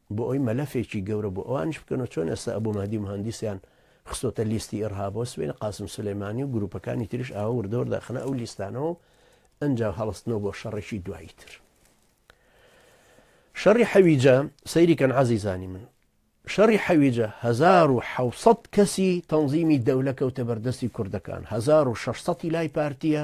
بۆ ئەوەی مەلەفێکی گەورە بۆ ئەوانیش بکەنەوە چۆن ئێستا ئەبو مەهدی موهەندیسیان خستۆتە لیستی ئیرهابەوە سبەینێ قاسم سولەیمانی و گروپەکانی تریش ئاوا وردە وردە ئەخنە ئەو لیستانەوەو ئەنجا هەڵستنەوە بۆ شەڕێکی دوایی تر شەڕی حەویجە سەیری کەن عزیزانی من شەڕی حەویجە 1970 کەسی تەنظیمی دەولە کەوتە بەردەستی کوردەکان 1600 لای پارتیە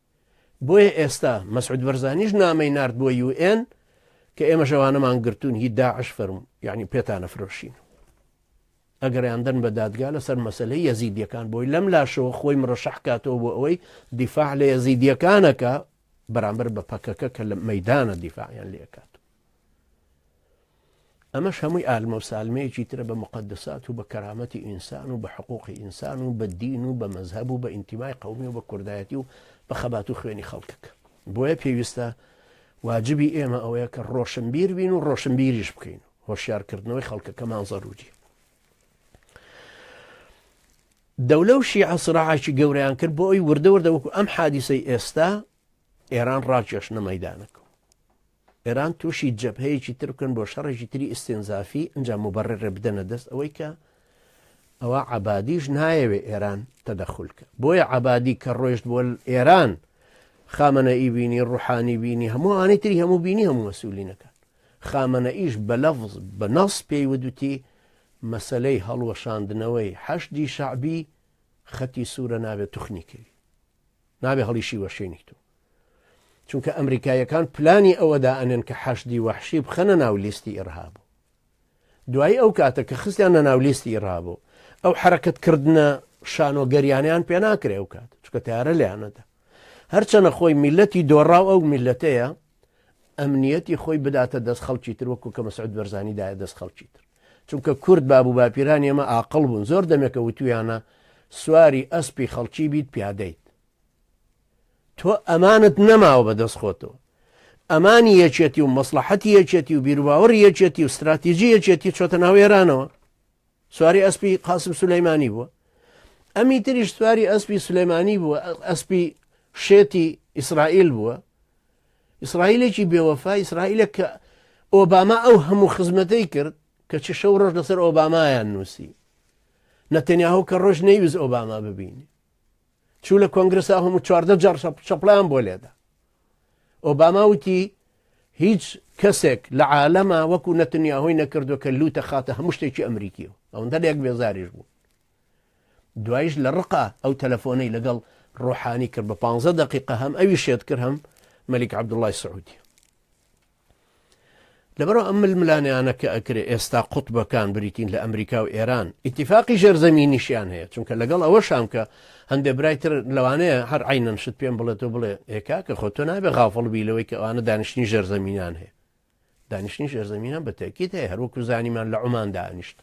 بۆیە ئێستا مەسعود بەرزانیش نامەی نارد بۆ یو ئێن کە ئێمە ژەوانەمان گرتوون هی داعش فەرم یعنی پێتانە فرۆشین ئەگەریان دەن بە دادگا لەسەر مەسلەی یەزیدیەکان بۆی لەم لاشەوە خۆی مرەشەحکاتەوە بۆ ئەوەی دیفاع لە یەزیدیەکانەکە بەرامبەر بە پەکەکە کە لە مەدانە دیفاعیان لەکات ئەمەش هەمووی ئالمەو سالمەیەکی ترە بە موقەدەسات و بە کەرامەتی ئینسان و بە حقوقی ئینسان و بە دین و بە مەزهەب و بە ئینتیمای قەومی و بە کوردایەتی و بە خەبات و خوێنی خەڵکەکە بۆیە پێویستە واجبی ئێمە ئەوەیە کە ڕۆشنبیر بین و ڕۆشنبیریش بکەین هۆشیارکردنەوەی خەڵکەکەمان زەروری دەولە و شیعە سراعاکی گەوریان کرد بۆ ئەوی وردە وردە وەکو ئەم حادیسەی ئێستا ئێران ڕاکێشنە مەدانەکە ئێران تووشی جەبهەیەکی تر بکەن بۆ شەڕێکی تری ئیستینزافی ئینجا موبەڕێڕێ بدەنە دەست ئەوەی کە ئەوە عەبادیش نایەوێ ئێران تەدەخول کە بۆیە عەبادی کە ڕۆیشت بۆ ئێران خامەنە ئی بینی ڕوحانی بینی هەموو ئانی تری هەموو بینی هەموو مەسوولینەکان خامەنە ئیش بە لەفز بە نەڵس پێی ودوتی مەسلەی هەڵوەشاندنەوەی حەشدی شعبی خەتی سوورە نابێت توخنیکەوی نابێ هەڵیشی وەشێنی تو چونکە ئەمریکایەکان پلانی ئەوەدا ئەنێن کە حەشدی وەحشی بخەنە ناو لیستی ئیرهابوو دوایی ئەو کاتە کە خستیان لە ناو لیستی ئیرهابوو ئەو حرەکەتکردە شانۆگەریانیان پێ ناکرێ و کات چکە تارە لەیانەدا هەرچەنە خۆی میلەتی دۆڕاو ئەو میلەتەیە ئەمنیەتی خۆی بداتە دەست خەڵکی تر وەکو کە مەسعود بەرزانی دایە دەست خەڵکی تر چونکە کورد باب و باپیران ئێمە ئاقل بوون زۆر دەمێکە وتویانە سواری ئەسپی خەڵکی بیت پیادەیت تۆ ئەمانت نەماوە بە دەست خۆتەوە ئەمانی یەکێتی و مەسلحەتی یەکێتی و بیرواوەڕ یەکێتی و استراتیژی یەکێتی چۆتە ناو ئێرانەوە سواری ئەسپی قاسم سولەیمانی بووە ئەمی تریش سواری ئەسپی سلێمانی بووە ئەسپی شێتی ئیسرائیل بووە ئیسرائیلێکی بێوەفا ئیسرائیلە کە ئۆباما ئەو هەموو خزمەتەی کرد کە چ شەو ڕۆژ لەسەر ئۆبامایان نووسی نەتەنیاهو کە ڕۆژ نەیوز ئۆباما ببینی چوو لە کۆنگرسا هەموو چواردە جار چەپڵیان بۆ لێدا ئۆباما وتی هیچ کەسێک لە عالەما وەکو نەتنیا هۆی نەکردو کە لوتە خاتە هەموو شتێکی ئەمریکی و ئەوەندە لەک بێزاریش بوو دوایش لە ڕقا ئەو تەلەفۆنەی لەگەڵ ڕۆحانی کرد بە پ دقیقە هەم ئەوی شێت کرد هەم مەلیک عبدوڵای سعودی لەبەرئەوە ئەم ململانێیانە کە ئەکرێ ئێستا قوتبەکان بریتین لە ئەمریکا و ئێران ئیتیفاقی ژێرزەمینیشیان هەیە چونکە لەگەڵ ئەوە شام کە هەندێ برای تر لەوانەیە هەر عینەن شت پێم بڵێت و بڵێ ئێکا کە خۆ تۆ نابێ غافڵ بی لەوەی کە ئەوانە دانیشتنی ژێرزەمینان هەیە دانیشتنی ژێرزەمینان بە تەکیت هەیە هەروەکو زانیمان لە عمان دانیشت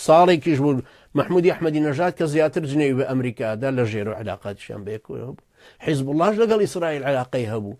ساڵێکیش بوو مححمودی ئەحمەدی نەژات کە زیاتر جنێوی بە ئەمریکادا لە ژێرۆ علااقاتیان بەیەکەوە بوو حیزب اللهش لەگەڵ ئیسرائیل علاقەی هەبوو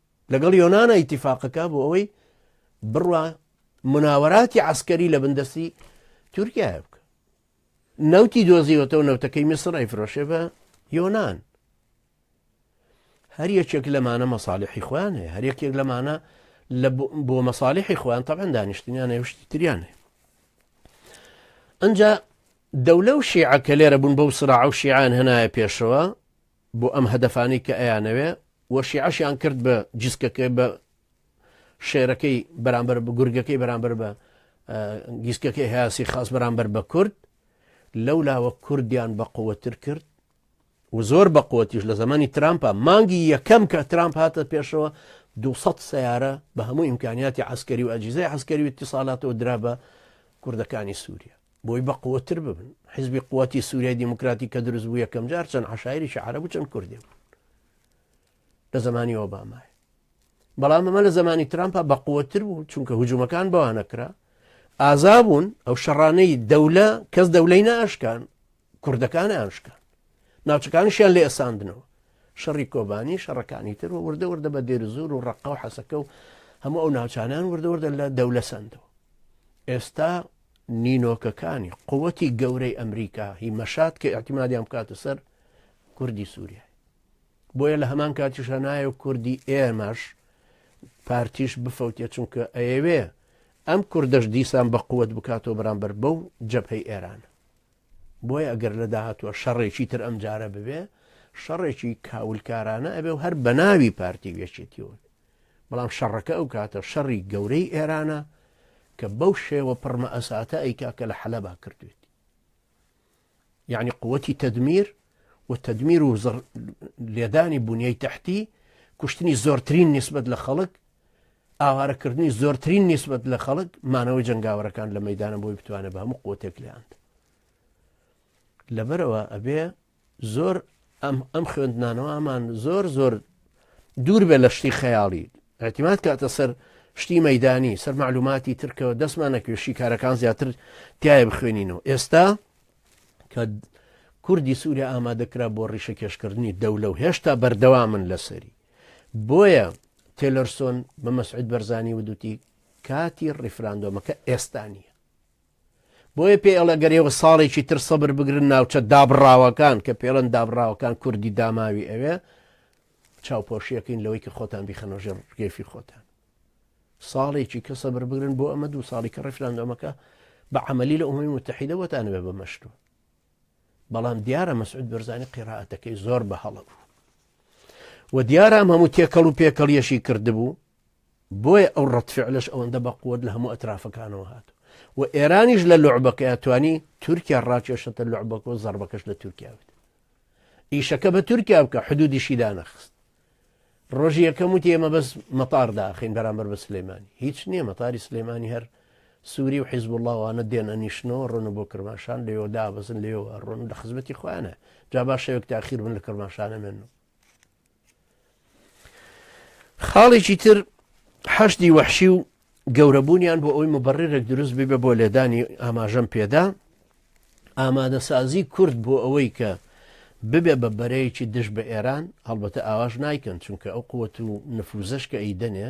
لەگەڵ یۆنانە ئیتیفاقەکە بۆ ئەوەی بڕوا مناوەراتی عسکەری لە بندەستی تورکایە بکە نەوتی دۆزیوەتەوە نەوتەکەی میسر ئەیفرۆشێ بە یۆناان هەر یەکێک لەمانە مەساالحی خۆیان هەیە هەر یەکێک لەمانە لە بۆ مەساالحی خۆیان تەبەن دانیشتنیان هێشتی تریان هەیە ئەجا دەولە و شیعە کە لێرە بوون بەو سرا و شیعان هەنایە پێشەوە بۆ ئەم هەدەفانەی کە ئەیانەوێ و شیعەشیان کرد بە جسکەکەی بە شێرەکەی بەرامبەر بە گورگەکەی بەرامبەر بە گیسکەکەی هاسی خاس بەرامبەر بە کورد لەو لاوە کوردیان بە قوتر کرد و زۆر بە قوتیش لە زمانی ترامپە مانگی یەکەم کە ترامپ هاتە پێشەوە 200 سیارە بە هەموو ئیمکانیاتی عسکەری و ئەجیزای عسکەری و اتصالاتەوە درا بە کوردەکانی سووریا بۆی بە قوتر ببن حزبی قوتی سووریای دیموکراتی کە دروست بوو یەکەم جار چەند عشاعریشی عرب و چەند کوردی بوو لە زمانی ئۆبامای بەڵام ئەمە لە زمانی ترامپا بە قوتر بوو چونکە هجوومەکان بەوانەکرا ئازا بوون ئەو شەڕانەی دەولە کەس دەولەی ناشکان کوردەکانیان شکان، ناوچەکانیشیان لێساندنەوە. شەڕی کۆبانی، شەڕەکانی تر و وردە وردە بە دێرزور و ڕەققە و حەسەکە و هەموو ئەو ناوچانیان وردە وردە لە دەولە سەندەوە. ئێستا نینۆکەکانی قوتی گەورەی ئەمریکا هی مەشات کە ئەعتیمادیان بکاتە سەر کوردی سووریای. بۆیە لە هەمان کاتیشە نایە و کوردی ئێمەش پارتیش بفەوتێ چونکە ئەیەوێ ئەم کوردەش دیسان بە قوت بکاتەوە بەرامبەر بەو جەبهەی ئێرانە. بۆیە گەر لە داهاتووە شەڕێکی تر ئەم جارە ببێ شەڕێکی کاولکارانە ئەبێ و هەر بە ناوی پارتی وێچێتیون بەڵام شەڕەکە ئەو کاتە شەڕی گەورەی ئێرانە کە بەو شێوە پڕمە ئەساتە ئەیکا کە لە حەلەبا کردوێت یعنی قوتی تدمیر و تدمیر و لێدانی بنیای تحتی کوشتنی زۆرترین نسبت لە خەڵک ئاوارەکردنی زۆرترین نیسبەت لە خەڵک مانەوەی جەنگاوەرەکان لە مەدانە بۆی بتوانێت بە هەموو قوتێک لەاند لەبەرەوە ئەبێ زۆر ئەم ئەم خوێندنانەوەمان زۆر زۆر دوور بێ لە شتی خەیاڵی ئەتیمات کاتە سەر شتی مەدانی سەر معلوماتی ترکەوە دەستمان نەکوێشی کارەکان زیاتر تایە بخوێنینەوە ئێستا کە کوردی سووریا ئامادەکرا بۆ ڕیشە کێشکردنی دەولە و هێشتا بەردەوا من لەسەری بۆیە تێلەرسۆن بە مەسعود بەرزانی ودوتی کاتی ڕیفراندۆمەکە ئێستا نییە بۆیە پێ ئەڵە گەرێەوە ساڵێکی تر سەبر بگرن ناوچە دابڕاوەکان کە پێڵەن دابڕاوەکان کوردی داماوی ئەوێ چاوپۆشیەکەین لەوەی کە خۆتان بیخەنەژێر گەفی خۆتان ساڵێکی کە سەبر بگرن بۆ ئەمە دوو ساڵی کە ڕفراندۆمەکە بە عملی لە ئومی متحیدە وەتان بێ بە مەشتوە بەڵام دیارە مەسعود بەرزانانی قێراعاتەکەی زۆر بە هەڵە بوو وە دیارە ئەم هەموو تێکەڵ و پێکەڵیەشی کردبوو بۆیە ئەو ڕەتفعلش ئەوەندە بە قوت لە هەموو ئەترافەکانەوە هات و ئێرانیش لە لوعبەکە توانی تورکیا ڕاکێشتە لوعبەکە و زەربەکەش لە تورکیا بێت ئیشەکە بە تورکیا بکە حدودیشی دانەخست ڕۆژی یەکەم وتی ئێمە بەس مەتار داخین بەرامبەر بە سلێمانی هیچ نییە مەتاری سلێمانی هەر سوری و حیزبوڵا وانە دێن ئەنیشنەوە ڕۆنە بۆ کرماشان لەوێوە دابەزن لەوێوە ئەڕۆن لە خزمەتی خۆیانە جا با شەوێک تاخیر بن لە کرماشان ئەمێن و خاڵێکی تر حەشدی وەحشی و گەورەبوونیان بۆ ئەوی مبڕێرێک دروست ببێ بۆ لێدانی ئاماژەم پێدا ئامادەسازی کورد بۆ ئەوەی کە ببێ بە بەرەیەکی دژ بە ئێران هەڵبەتە ئاواش نایکەن چونکە ئەو قوت و نفوزش کە ئەیدەنێ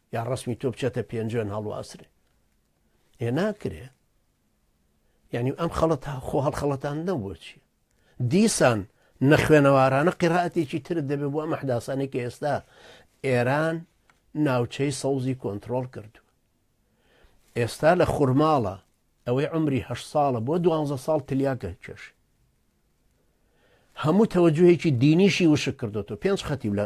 یا ڕەسمی تۆ بچێتە پێنجوێن هەڵواسرێ ئێ ناکرێ یعنی ئەم خەڵەت خۆ هەڵخەڵەتان نەبووە چی دیسان نەخوێنەوارانە قیراتێکی ترت دەبێ بۆ ئەم حداسانی کە ئێستا ئێران ناوچەی سەوزی کۆنتترۆل کردو ئێستا لە خورماڵە ئەوەی عمری هە ساڵە بۆ دوانزە ساڵ تلیاکە کێش هەموو تەوەجوهێکی دینیشی وشک کردو پێنج خەتی لە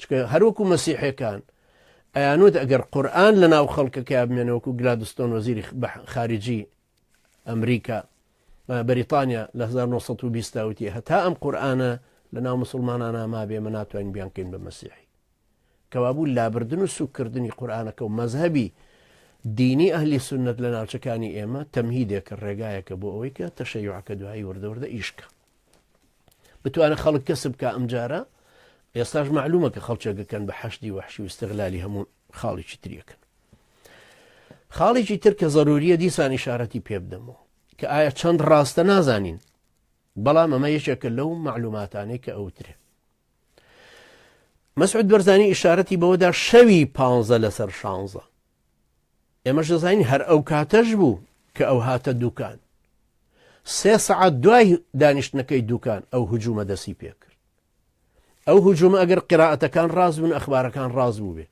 چکە هەروەکو مەسیحەکان ئەیانوت ئەگەر قورآن لە ناو خەڵکەکە بمێنە وەکو گلادستۆن وەزیری خارجی ئەمریکا بەریتانیا لە 1920 تاوتی هەتا ئەم قورآانە لە ناو مسلمانان نامابێ مە ناتوانین بیانکەین بە مەسیحی کەوابوو لابردن و سوکردنی قورآانەکە و مەذهبی دینی ئەهلی سنت لە ناوچەکانی ئێمە تەمهیدێکە ڕێگایەکە بۆ ئەوەی کە تەشەیوعەکە دوایی وردەوردە ئیشکە بتوانە خەڵک کەسب بکە ئەم جارە ئێستاش معلومە کە خەڵچەکەکەن بە حەشدی وحشی و استغلالی هەموو خاڵێکی تریەکەن خاڵێکی تر کە زەروریە دیسان ئشارەتی پێ بدەمەوە کە ئایا چەند ڕاستە نازانین بەڵام ئەمە یەکێکە لەو معلوماتانەی کە ئەوترێ مەسعود بەرزانی ئشارەتی بەوەدا شەوی پ لەسەر شانزە ئێمەش دەزانین هەر ئەو کاتەش بوو کە ئەو هاتە دوکان سێ سەعات دوای دانیشتنەکەی دوکان ئەو هجوومە دەسی پێ کرد ئەو هجوومە ئەگەر قراعەتەکان ڕاز بوون ئەخبارەکان ڕاز بوو بێ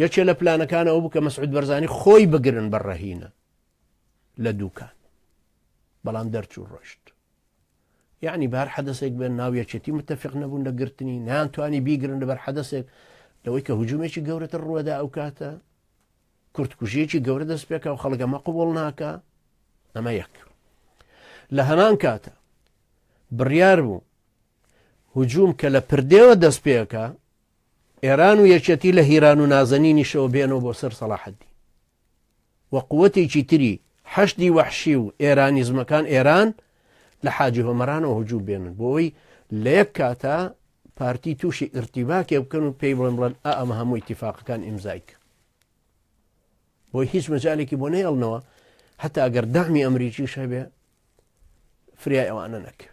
یەکێ لە پلانەکانەوە بوو کە مەسعود بەرزانی خۆی بگرن بە ڕەهینە لە دووکان بەڵام دەرچوو ڕۆشت یعنی بار حەدەسێک بێن ناو یەکێتی متتەفق نەبوون لە گرتنی نیان توانی بیگرن لەبەر حەدەسێک لەوەی کە هجوومێکی گەورەتر ڕوەدا ئەو کاتە کورتکوژیەکی گەورە دەست پێکا و خەڵگەمە قوبڵ ناکە ئەمە یەک لە هەمان کاتە بڕیار بوو هجووم کە لە پردێوە دەست پێەکە ئێران و یەکێتی لە هیران و نازەنینیشەوە بێنەوە بۆ سەر سەڵاحەدی و قوتێکی تری حەشدی وەحشی و ئێرانیزمەکان ئێران لە حاجی هۆمەرانەوە هجوو بێنن بۆی لە یەک کاتە پارتی تووشی ئرتیباکێ بکەن و پێی بڵێن بڵێن ئەمە هەموو اتفاقەکان ئیمزایک بۆی هیچ مەجالێکی بۆ نەیڵنەوە هەتا گەر دامی ئەمریکیش هەبێ فریای ئەوانە نەکەوێت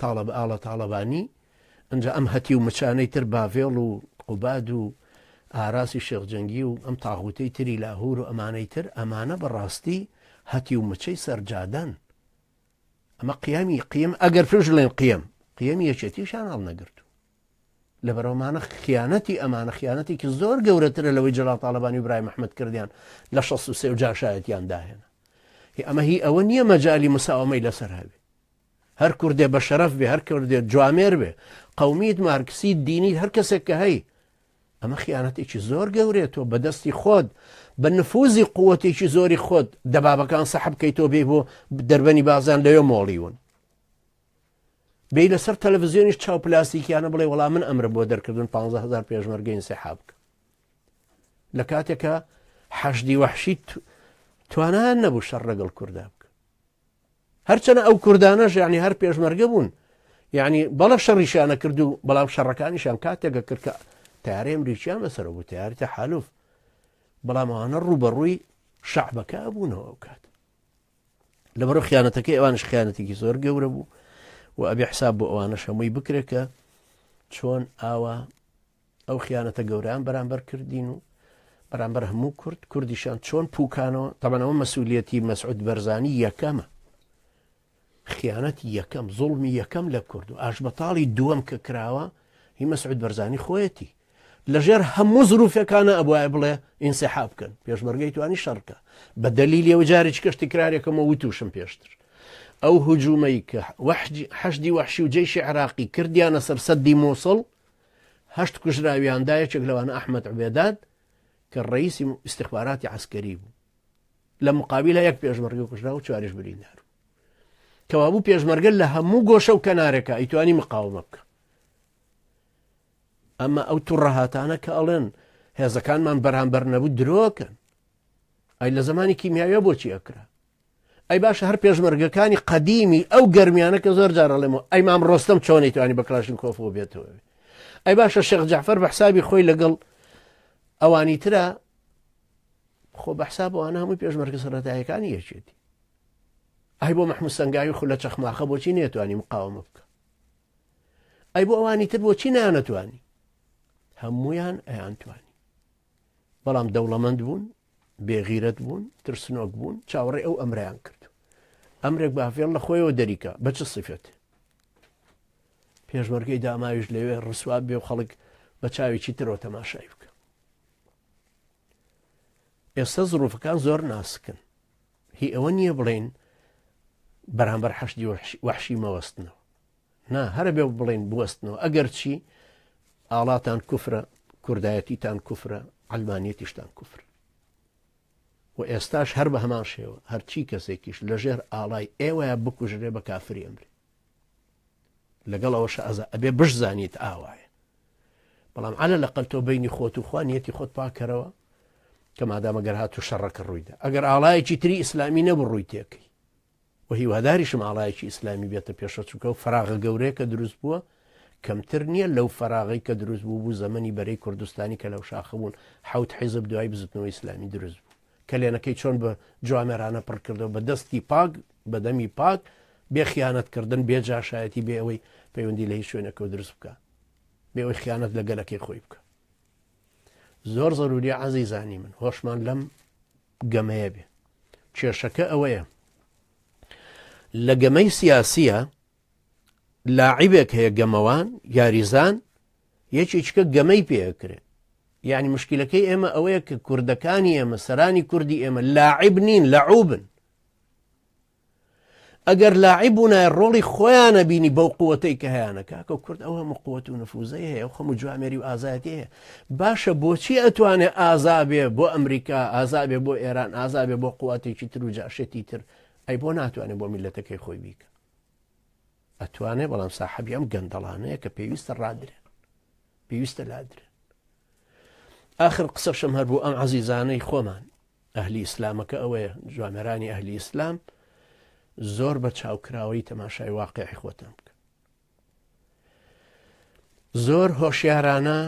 تاڵەبا ئاڵا تاڵەبانی ئنجا ئەم هەتیو مچانەی تر باڤێڵ و قوباد و ئاراسی شێخ جەنگی و ئەم تاغوتەی تری لاهور و ئەمانەی تر ئەمانە بەڕاستی هەتی و مچەی سەرجادەن ئەمە قیامی قیم ئەگەر پێش لێن قیم قیەمی یەکێتیشان هەڵ نەگرت لە بەرەمانە خیانەتی ئەمانە خیانەتێکی زۆر گەورەترە لەوەی جلال تاالبانی برای مححمد کردیان لە 16 سێ و جاشایەتیان داهێنا ئەمە هی ئەوە نییە مەجای مساومەی لەسەر هەبێ هەر کوردێ بەشەرەف بێ هەر کوردێ جوامێر بێ قەومیت مارکسیت دینیت هەر کەسێک کە هەی ئەمە خیانەتێکی زۆر گەورێت تۆ بەدەستی خۆت بە نفوزی قووەتێکی زۆری خۆت دەبابەکان سەحب کەی تۆ بێ بۆ دەربەنی بازان لەوێ مۆڵیون بێ لەسەر تەلەڤزیۆنیش چاو پلاستیکیانە بڵێ وەڵام من ئەمرم بۆ دەرکردن 15هزار پێشمەرگەین سەحاب بکە لە کاتێکە حەشدی وەحشیت توانان نەبوو شەڕ ڕەگەڵ کووردا بکە هەرچەنە ئەو کوردانەش یعنی هەر پێشمەرگە بوون یعنی بەڵە شەڕیشانە کرد و بەڵام شەڕەکانیشان کاتێکە کرد کە تارێ مریچیان لەسەر بوو تارتە حالوف بەڵامانە ڕوبەڕووی شەعبەکە بوونەوە ئەو کات لەبەر خیانەتەکەی ئەوانش خیانەتێکی زۆر گەورە بوو و ئەبێ حساب بۆ ئەوانە شەمەی بکرێکە چۆن ئاوا ئەو خیانەتە گەورەیان بەرامبەر کردین و بەرامبەر هەموو کورد کوردیشان چۆن پوکانەوە تەبەنەوە مەسوولەتی مەسعود بەرزانی یەکەمە خیانەت یەکەم زوڵمی یەکەم لە کورد و ئاشبەتاڵی دووەم کە کراوە هی مەسعود بەرزانی خۆیەتی لەژێر هەموو زروفەکانە ئەبواە بڵێ ئینسەحا بکەن پێشمەرگەی توانی شەڕکە بە دەلیل لێوە جارێک کەشتی کرارێکەمە وتوشم پێشتر ئەو هجوومەی کە وەحدی حەشدی وەحشی و جێشی عراقی کردیانە سەر سەدی مووسڵ هەشت کوژراویاندا یەکێک لەوانە ئەحمد عبێداد کە ڕئیسی استخباراتی عسکەری بوو لە مقابلە یەک پێشمەرگە کوژرا و چواریش بریندار کەوابوو پێشمەرگە لە هەموو گۆشە و کەنارەکە ئەیتوانی مقاومە بکە ئەمە ئەو توڕەهاتانە کە ئەڵێن هێزەکانمان بەرامبەر نەبوو درۆکەن ئەی لە زمانی کیمیاویە بۆچی ئەکرا ئەی باشە هەر پێشمەرگەکانی قەدیمی ئەو گەرمیانە کە زۆر جار ئەڵێمەوە ئەی مام ڕۆستەم چۆنی توانی بە کلاشن کۆفەوە بێتەوە ئەی باشە شێخ جعفەر بە حسابی خۆی لەگەڵ ئەوانی ترە خۆ بە حسابەوانە هەمووی پێشمەرگە سەرەتایەکانی یەکێتی ئەی بۆ مححمود سنگاوی خو لە چەخماخە بۆچی نێتوانی مقاومە بکە ئەی بۆ ئەوانی تر بۆچی نانەتوانی هەمویان ئەیان توانی بەڵام دەوڵەمەند بوون بێ غیرەت بوون ترسنۆک بوون چاوەڕێ ئەو ئەمریان کرد ئەمرێک باڤێڵ لە خۆیەوە دەریکە بە چ سیفێت پێشمەرگەی داماویش لەوێ ڕسواب بێ و خەڵک بە چاوێکی ترەوە تەماشای بکە ئێستا زڕوفەکان زۆر ناسکن هی ئەوە نییە بڵین بەرامبەر حەشدی وەحشی مەوەستنەوە نا هەرە بێ بڵێن بوەستنەوە ئەگەر چی ئاڵاتان کوفرە کوردایەتیتان کوفرە ئەلمانیەتیشتان کوفر و ئێستاش هەر بە هەمان شێوە هەرچی کەسێکیش لەژێر ئاڵای ئێوەیە بکوژرێ بە کافری ئەمرێ لەگەڵ ئەوە شازە ئەبێ بشزانیت ئاوایە بەڵام عەلە لە قەل تۆ بینی خۆت و خوانیەتی خۆت پاکەرەوە کە مادامەگەر هات و شەڕەکە ڕوویدا ئەگەر ئاڵایەکی تری ئیسلامی نەبوو ڕووی تێکەی و هیواداریشم ئاڵایەکی ئیسلامی بێتە پێشەوە چونکە ئەو فەراغە گەورەیە کە دروست بووە کەمتر نییە لەو فەراغەی کە دروست بوو بوو زەمەنی بەرەی کوردستانی کە لەو شاخە بوون حوت حیزب دوای بزوتنەوە ئیسلامی دروست بوو کەلێنەکەی چۆن بە جوامێرانە پڕ کردەوە بە دەستی پاک بەدەمی پاک بێ خیانەتکردن بێ جاشایەتی بێ ئەوەی پەیوەندی لە هیچ شوێنەکە دروست بکە بێ ئەوی خیانەت لە گەلەکەی خۆی بکە زۆر زەروری عزیزانی من هۆشمان لەم گەمەیە بێ کێشەکە ئەوەیە لە گەمەی سیاسیە لاعیبێک هەیە گەمەوان یاریزان یەکێکە گەمەی پێکرێت یعنی مشکلەکەی ئێمە ئەوەیە کە کوردەکانی ئێمە سەرانی کوردی ئێمە لاعیب نین لەعوبن ئەگەر لاعیب و نای ڕۆڵی خۆیانە بینی بەو قوتەی کە هەیەە کاکە و کورد ئەو هەموو قوت و نفوزەی هەیە و خەم و جوامێری و ئازایەتی هەیە باشە بۆچی ئەتوانێ ئازابێ بۆ ئەمریکا ئازابێ بۆ ئێران ئازابێ بۆ قواتێکی تر و جاشێتی تر ئەی بۆ ناتوانێ بۆ میلەتەکەی خۆی بیکە ئەتوانێ بەڵام ساحبی ئەم گەندەڵانەیە کە پێویستە ڕادرێن پێویستە لادرێن آخر قسەشم هەر بوو ئەم عزیزانەی خۆمان ئەهلی ئیسلامەکە ئەوەیە جوانەرانی ئەهلی ئیسلام زۆر بە چاوکراوەی تەماشای واقعی خۆتان بکە زۆر هۆشیارانە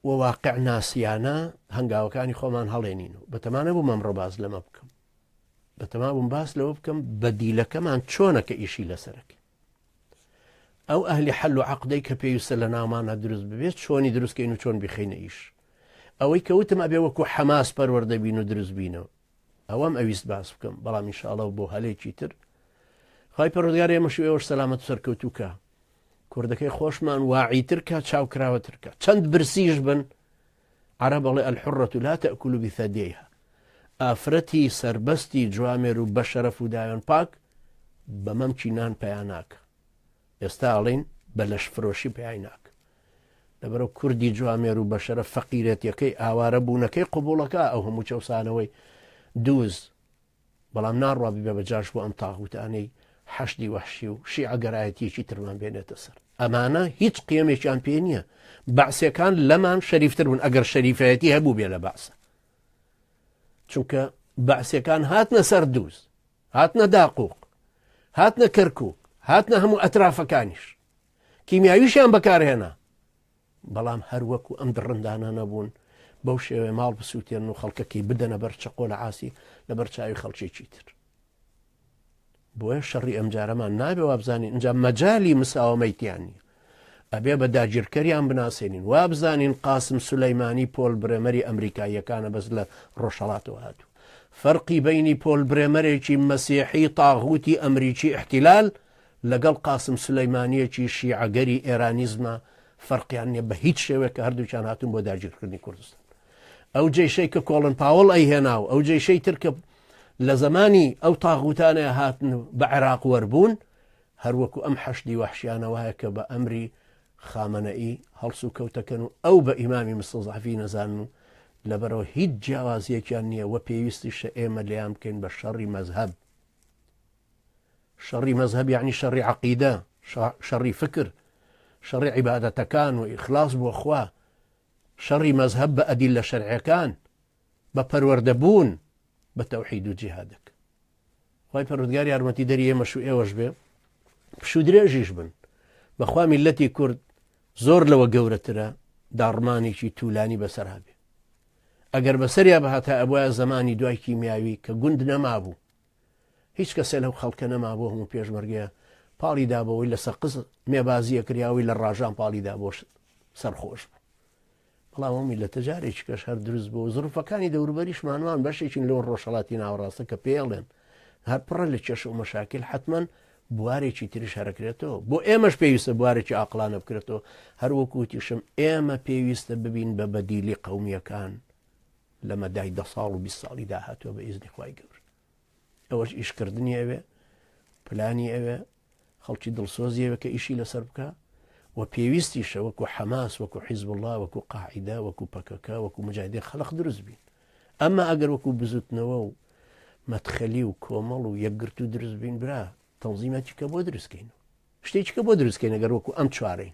و واقع ناسیانە هەنگاوەکانی خۆمان هەڵێنین و بەتەمانە بوو مەمڕۆ باز لەمە بکەم بەتەما بووم باس لەوە بکەم بە دیلەکەمان چۆنە کە ئیشی لەسەرەکە ئەو ئەهلی حەل و عەقدەی کە پێویستە لە ناومانا دروست ببێت چۆنی دروستکەین و چۆن بیخینە ئیش ئەوەی کەوتم ئەبێ وەکو حەماس پەروەردە بین و دروست بینەوە ئەوەم ئەویست باس بکەم بەڵام انشاءڵە بۆ هەلێکی تر خی پەرۆزگار ئێمەش ئێوەش سەلامەت سەرکەوتوکە کوردەکەی خۆشمان واعیترکە چاوکراوەترکە چەند برسیش بن عەرەب ئەڵێ الحرە لا تاکل بثدییها ئافرەتی سەربەستی جوامێر و بەشەرەف و داوێن پاک بە مەمکی نان پیا ناکە ئێستا ئەڵین بە لەش فرۆشی پیای ناکە لەبەرەو کوردی جوامێر و بەشەرە فەقیرەتەکەی ئاوارە بوونەکەی قوبوڵەکە ئەو هەموو چەسانەوەی دووز بەڵام ناڕوا ببێ بە جاش بۆ ئەم تاغوتانەی حەشدی وەحشی و شیعە گەرایەتیەکی ترمان بێنێتە سەر ئەمانە هیچ قیەمێکیان پێ نییە بەعسەکان لەمان شەریفتر بوون ئەگەر شەریفایەتی هەبوو بێ لە بەعسە چونکە بەعسەکان هاتنە سەر دووز هاتنە داقوق هاتنە کەرکک هاتنە هەموو ئەترافەکانیش کیمیاویشیان بەکارهێنا بەڵام هەر وەکو ئەم دڕندانانە بوون بەو شێوەیە ماڵ بسووتێنن و خەڵکەکەی بدەنە بەر چەقۆ لە عاسی لەبەر چاوی خەڵکێکی تر بۆیە شەڕی ئەمجارەمان نابێ وابزانین ئەجا مەجای مساوەمەی تیان نیە ئەبێ بە داگیرکەریان بناسێنین وابزانین قاسم سولەیمانی پۆل برێمەری ئەمریکاییەکانە بەس لە ڕۆژهڵاتەوە هاتوو فەرقی بینی پۆل برێمەرێکی مەسیحی تاغوتی ئەمریکی احتیلال لەگەڵ قاسم سولەیمانییەکی شیعەگەری ئێرانیزمە فەرقیان نیە بە هیچ شێوەیەک کە هەردووکیان هاتوون بۆ داگیرکردنی کوردستان ئەو جێشەی کە کۆڵن پاوەڵ ئەی هێنا و ئەو جێشەی تر کە لە زمانی ئەو تاغوتانە هاتن بە عێراق وەربوون هەروەکو ئەم حەشدی وحشیانەوەە کە بە ئەمری خامەنەئی هەڵس و کەوتەکەن و ئەو بە ئیمامی مستەزعفی نەزان و لەبەرەوە هیچ جیاوازیەکیان نییە وە پێویستی شە ئێمە لێیان بکەین بە شەڕی مەذهب شەڕی مەزهەب یەعنی شەڕی عەقیدە، شەڕی فکر، شەڕی عیبادەتەکان و ئیخلاص بۆ خوا، شەڕی مەزهەب بە ئەدیللە شەرعیەکان، بە پەروەردە بوون، بە تەوحید و جیهادەک. خوای پەروەردگار یارمەتی دەری ئێمەش و ئێوەش بێ پشوو درێژیش بن بەخوا میلەتی کورد زۆر لەوە گەورەترە داڕمانێکی توولانی بەسەرا بێ ئەگەر بەسەریا بهاتە ئەبواە زمانی دوای کیمیاوی کە گوند نەمابوو هیچ کەسێ لەو خەڵکە نەما بۆ هەموو پێشمەرگەیە پاڵی دا بەوەی لە سەقز مێبازیە کریاوەی لە ڕاژان پاڵی دا بۆش سەرخۆش بوو بەڵام ئەو میلەتە جارێکی کەش هەر دروست بۆ زڕفەکانی دەوروبەریش مانوان بەشێکین لەو ڕۆژهڵاتی ناوەڕاستە کە پێڵێن هەر پڕە لە کێش و مەشاکل حتمما بوارێکی تریش هەرەکرێتەوە بۆ ئێمەش پێویستە بوارێکی ئاقلانە بکرێتەوە هەروەکوتیشم ئێمە پێویستە ببین بە بەدیلی قومیەکان لە مەدای دە ساڵ و بیست ساڵی داهاتوە بە ئیزنی خوای گەورە ئەوەش ئیشکردنی ئەوێ پلانی ئەوێ خەڵکی دڵسۆزیەوە کە ئیشی لەسەر بکە و پێویستیشە وەکو حەماس وەکو حیزب الله وەکو قاعدا وەکو پەکەکە وەکو مجادی خەلق دروست بین ئەمە ئەگەر وەکو بزوتنەوە و مەتخەلی و کۆمەڵ و یەکگرت و دروست بین برا تەنزیمەتیکە بۆ دروستکەین شتێکیکە بۆ دروستکەین ئەگەر وەکو ئەم چوارین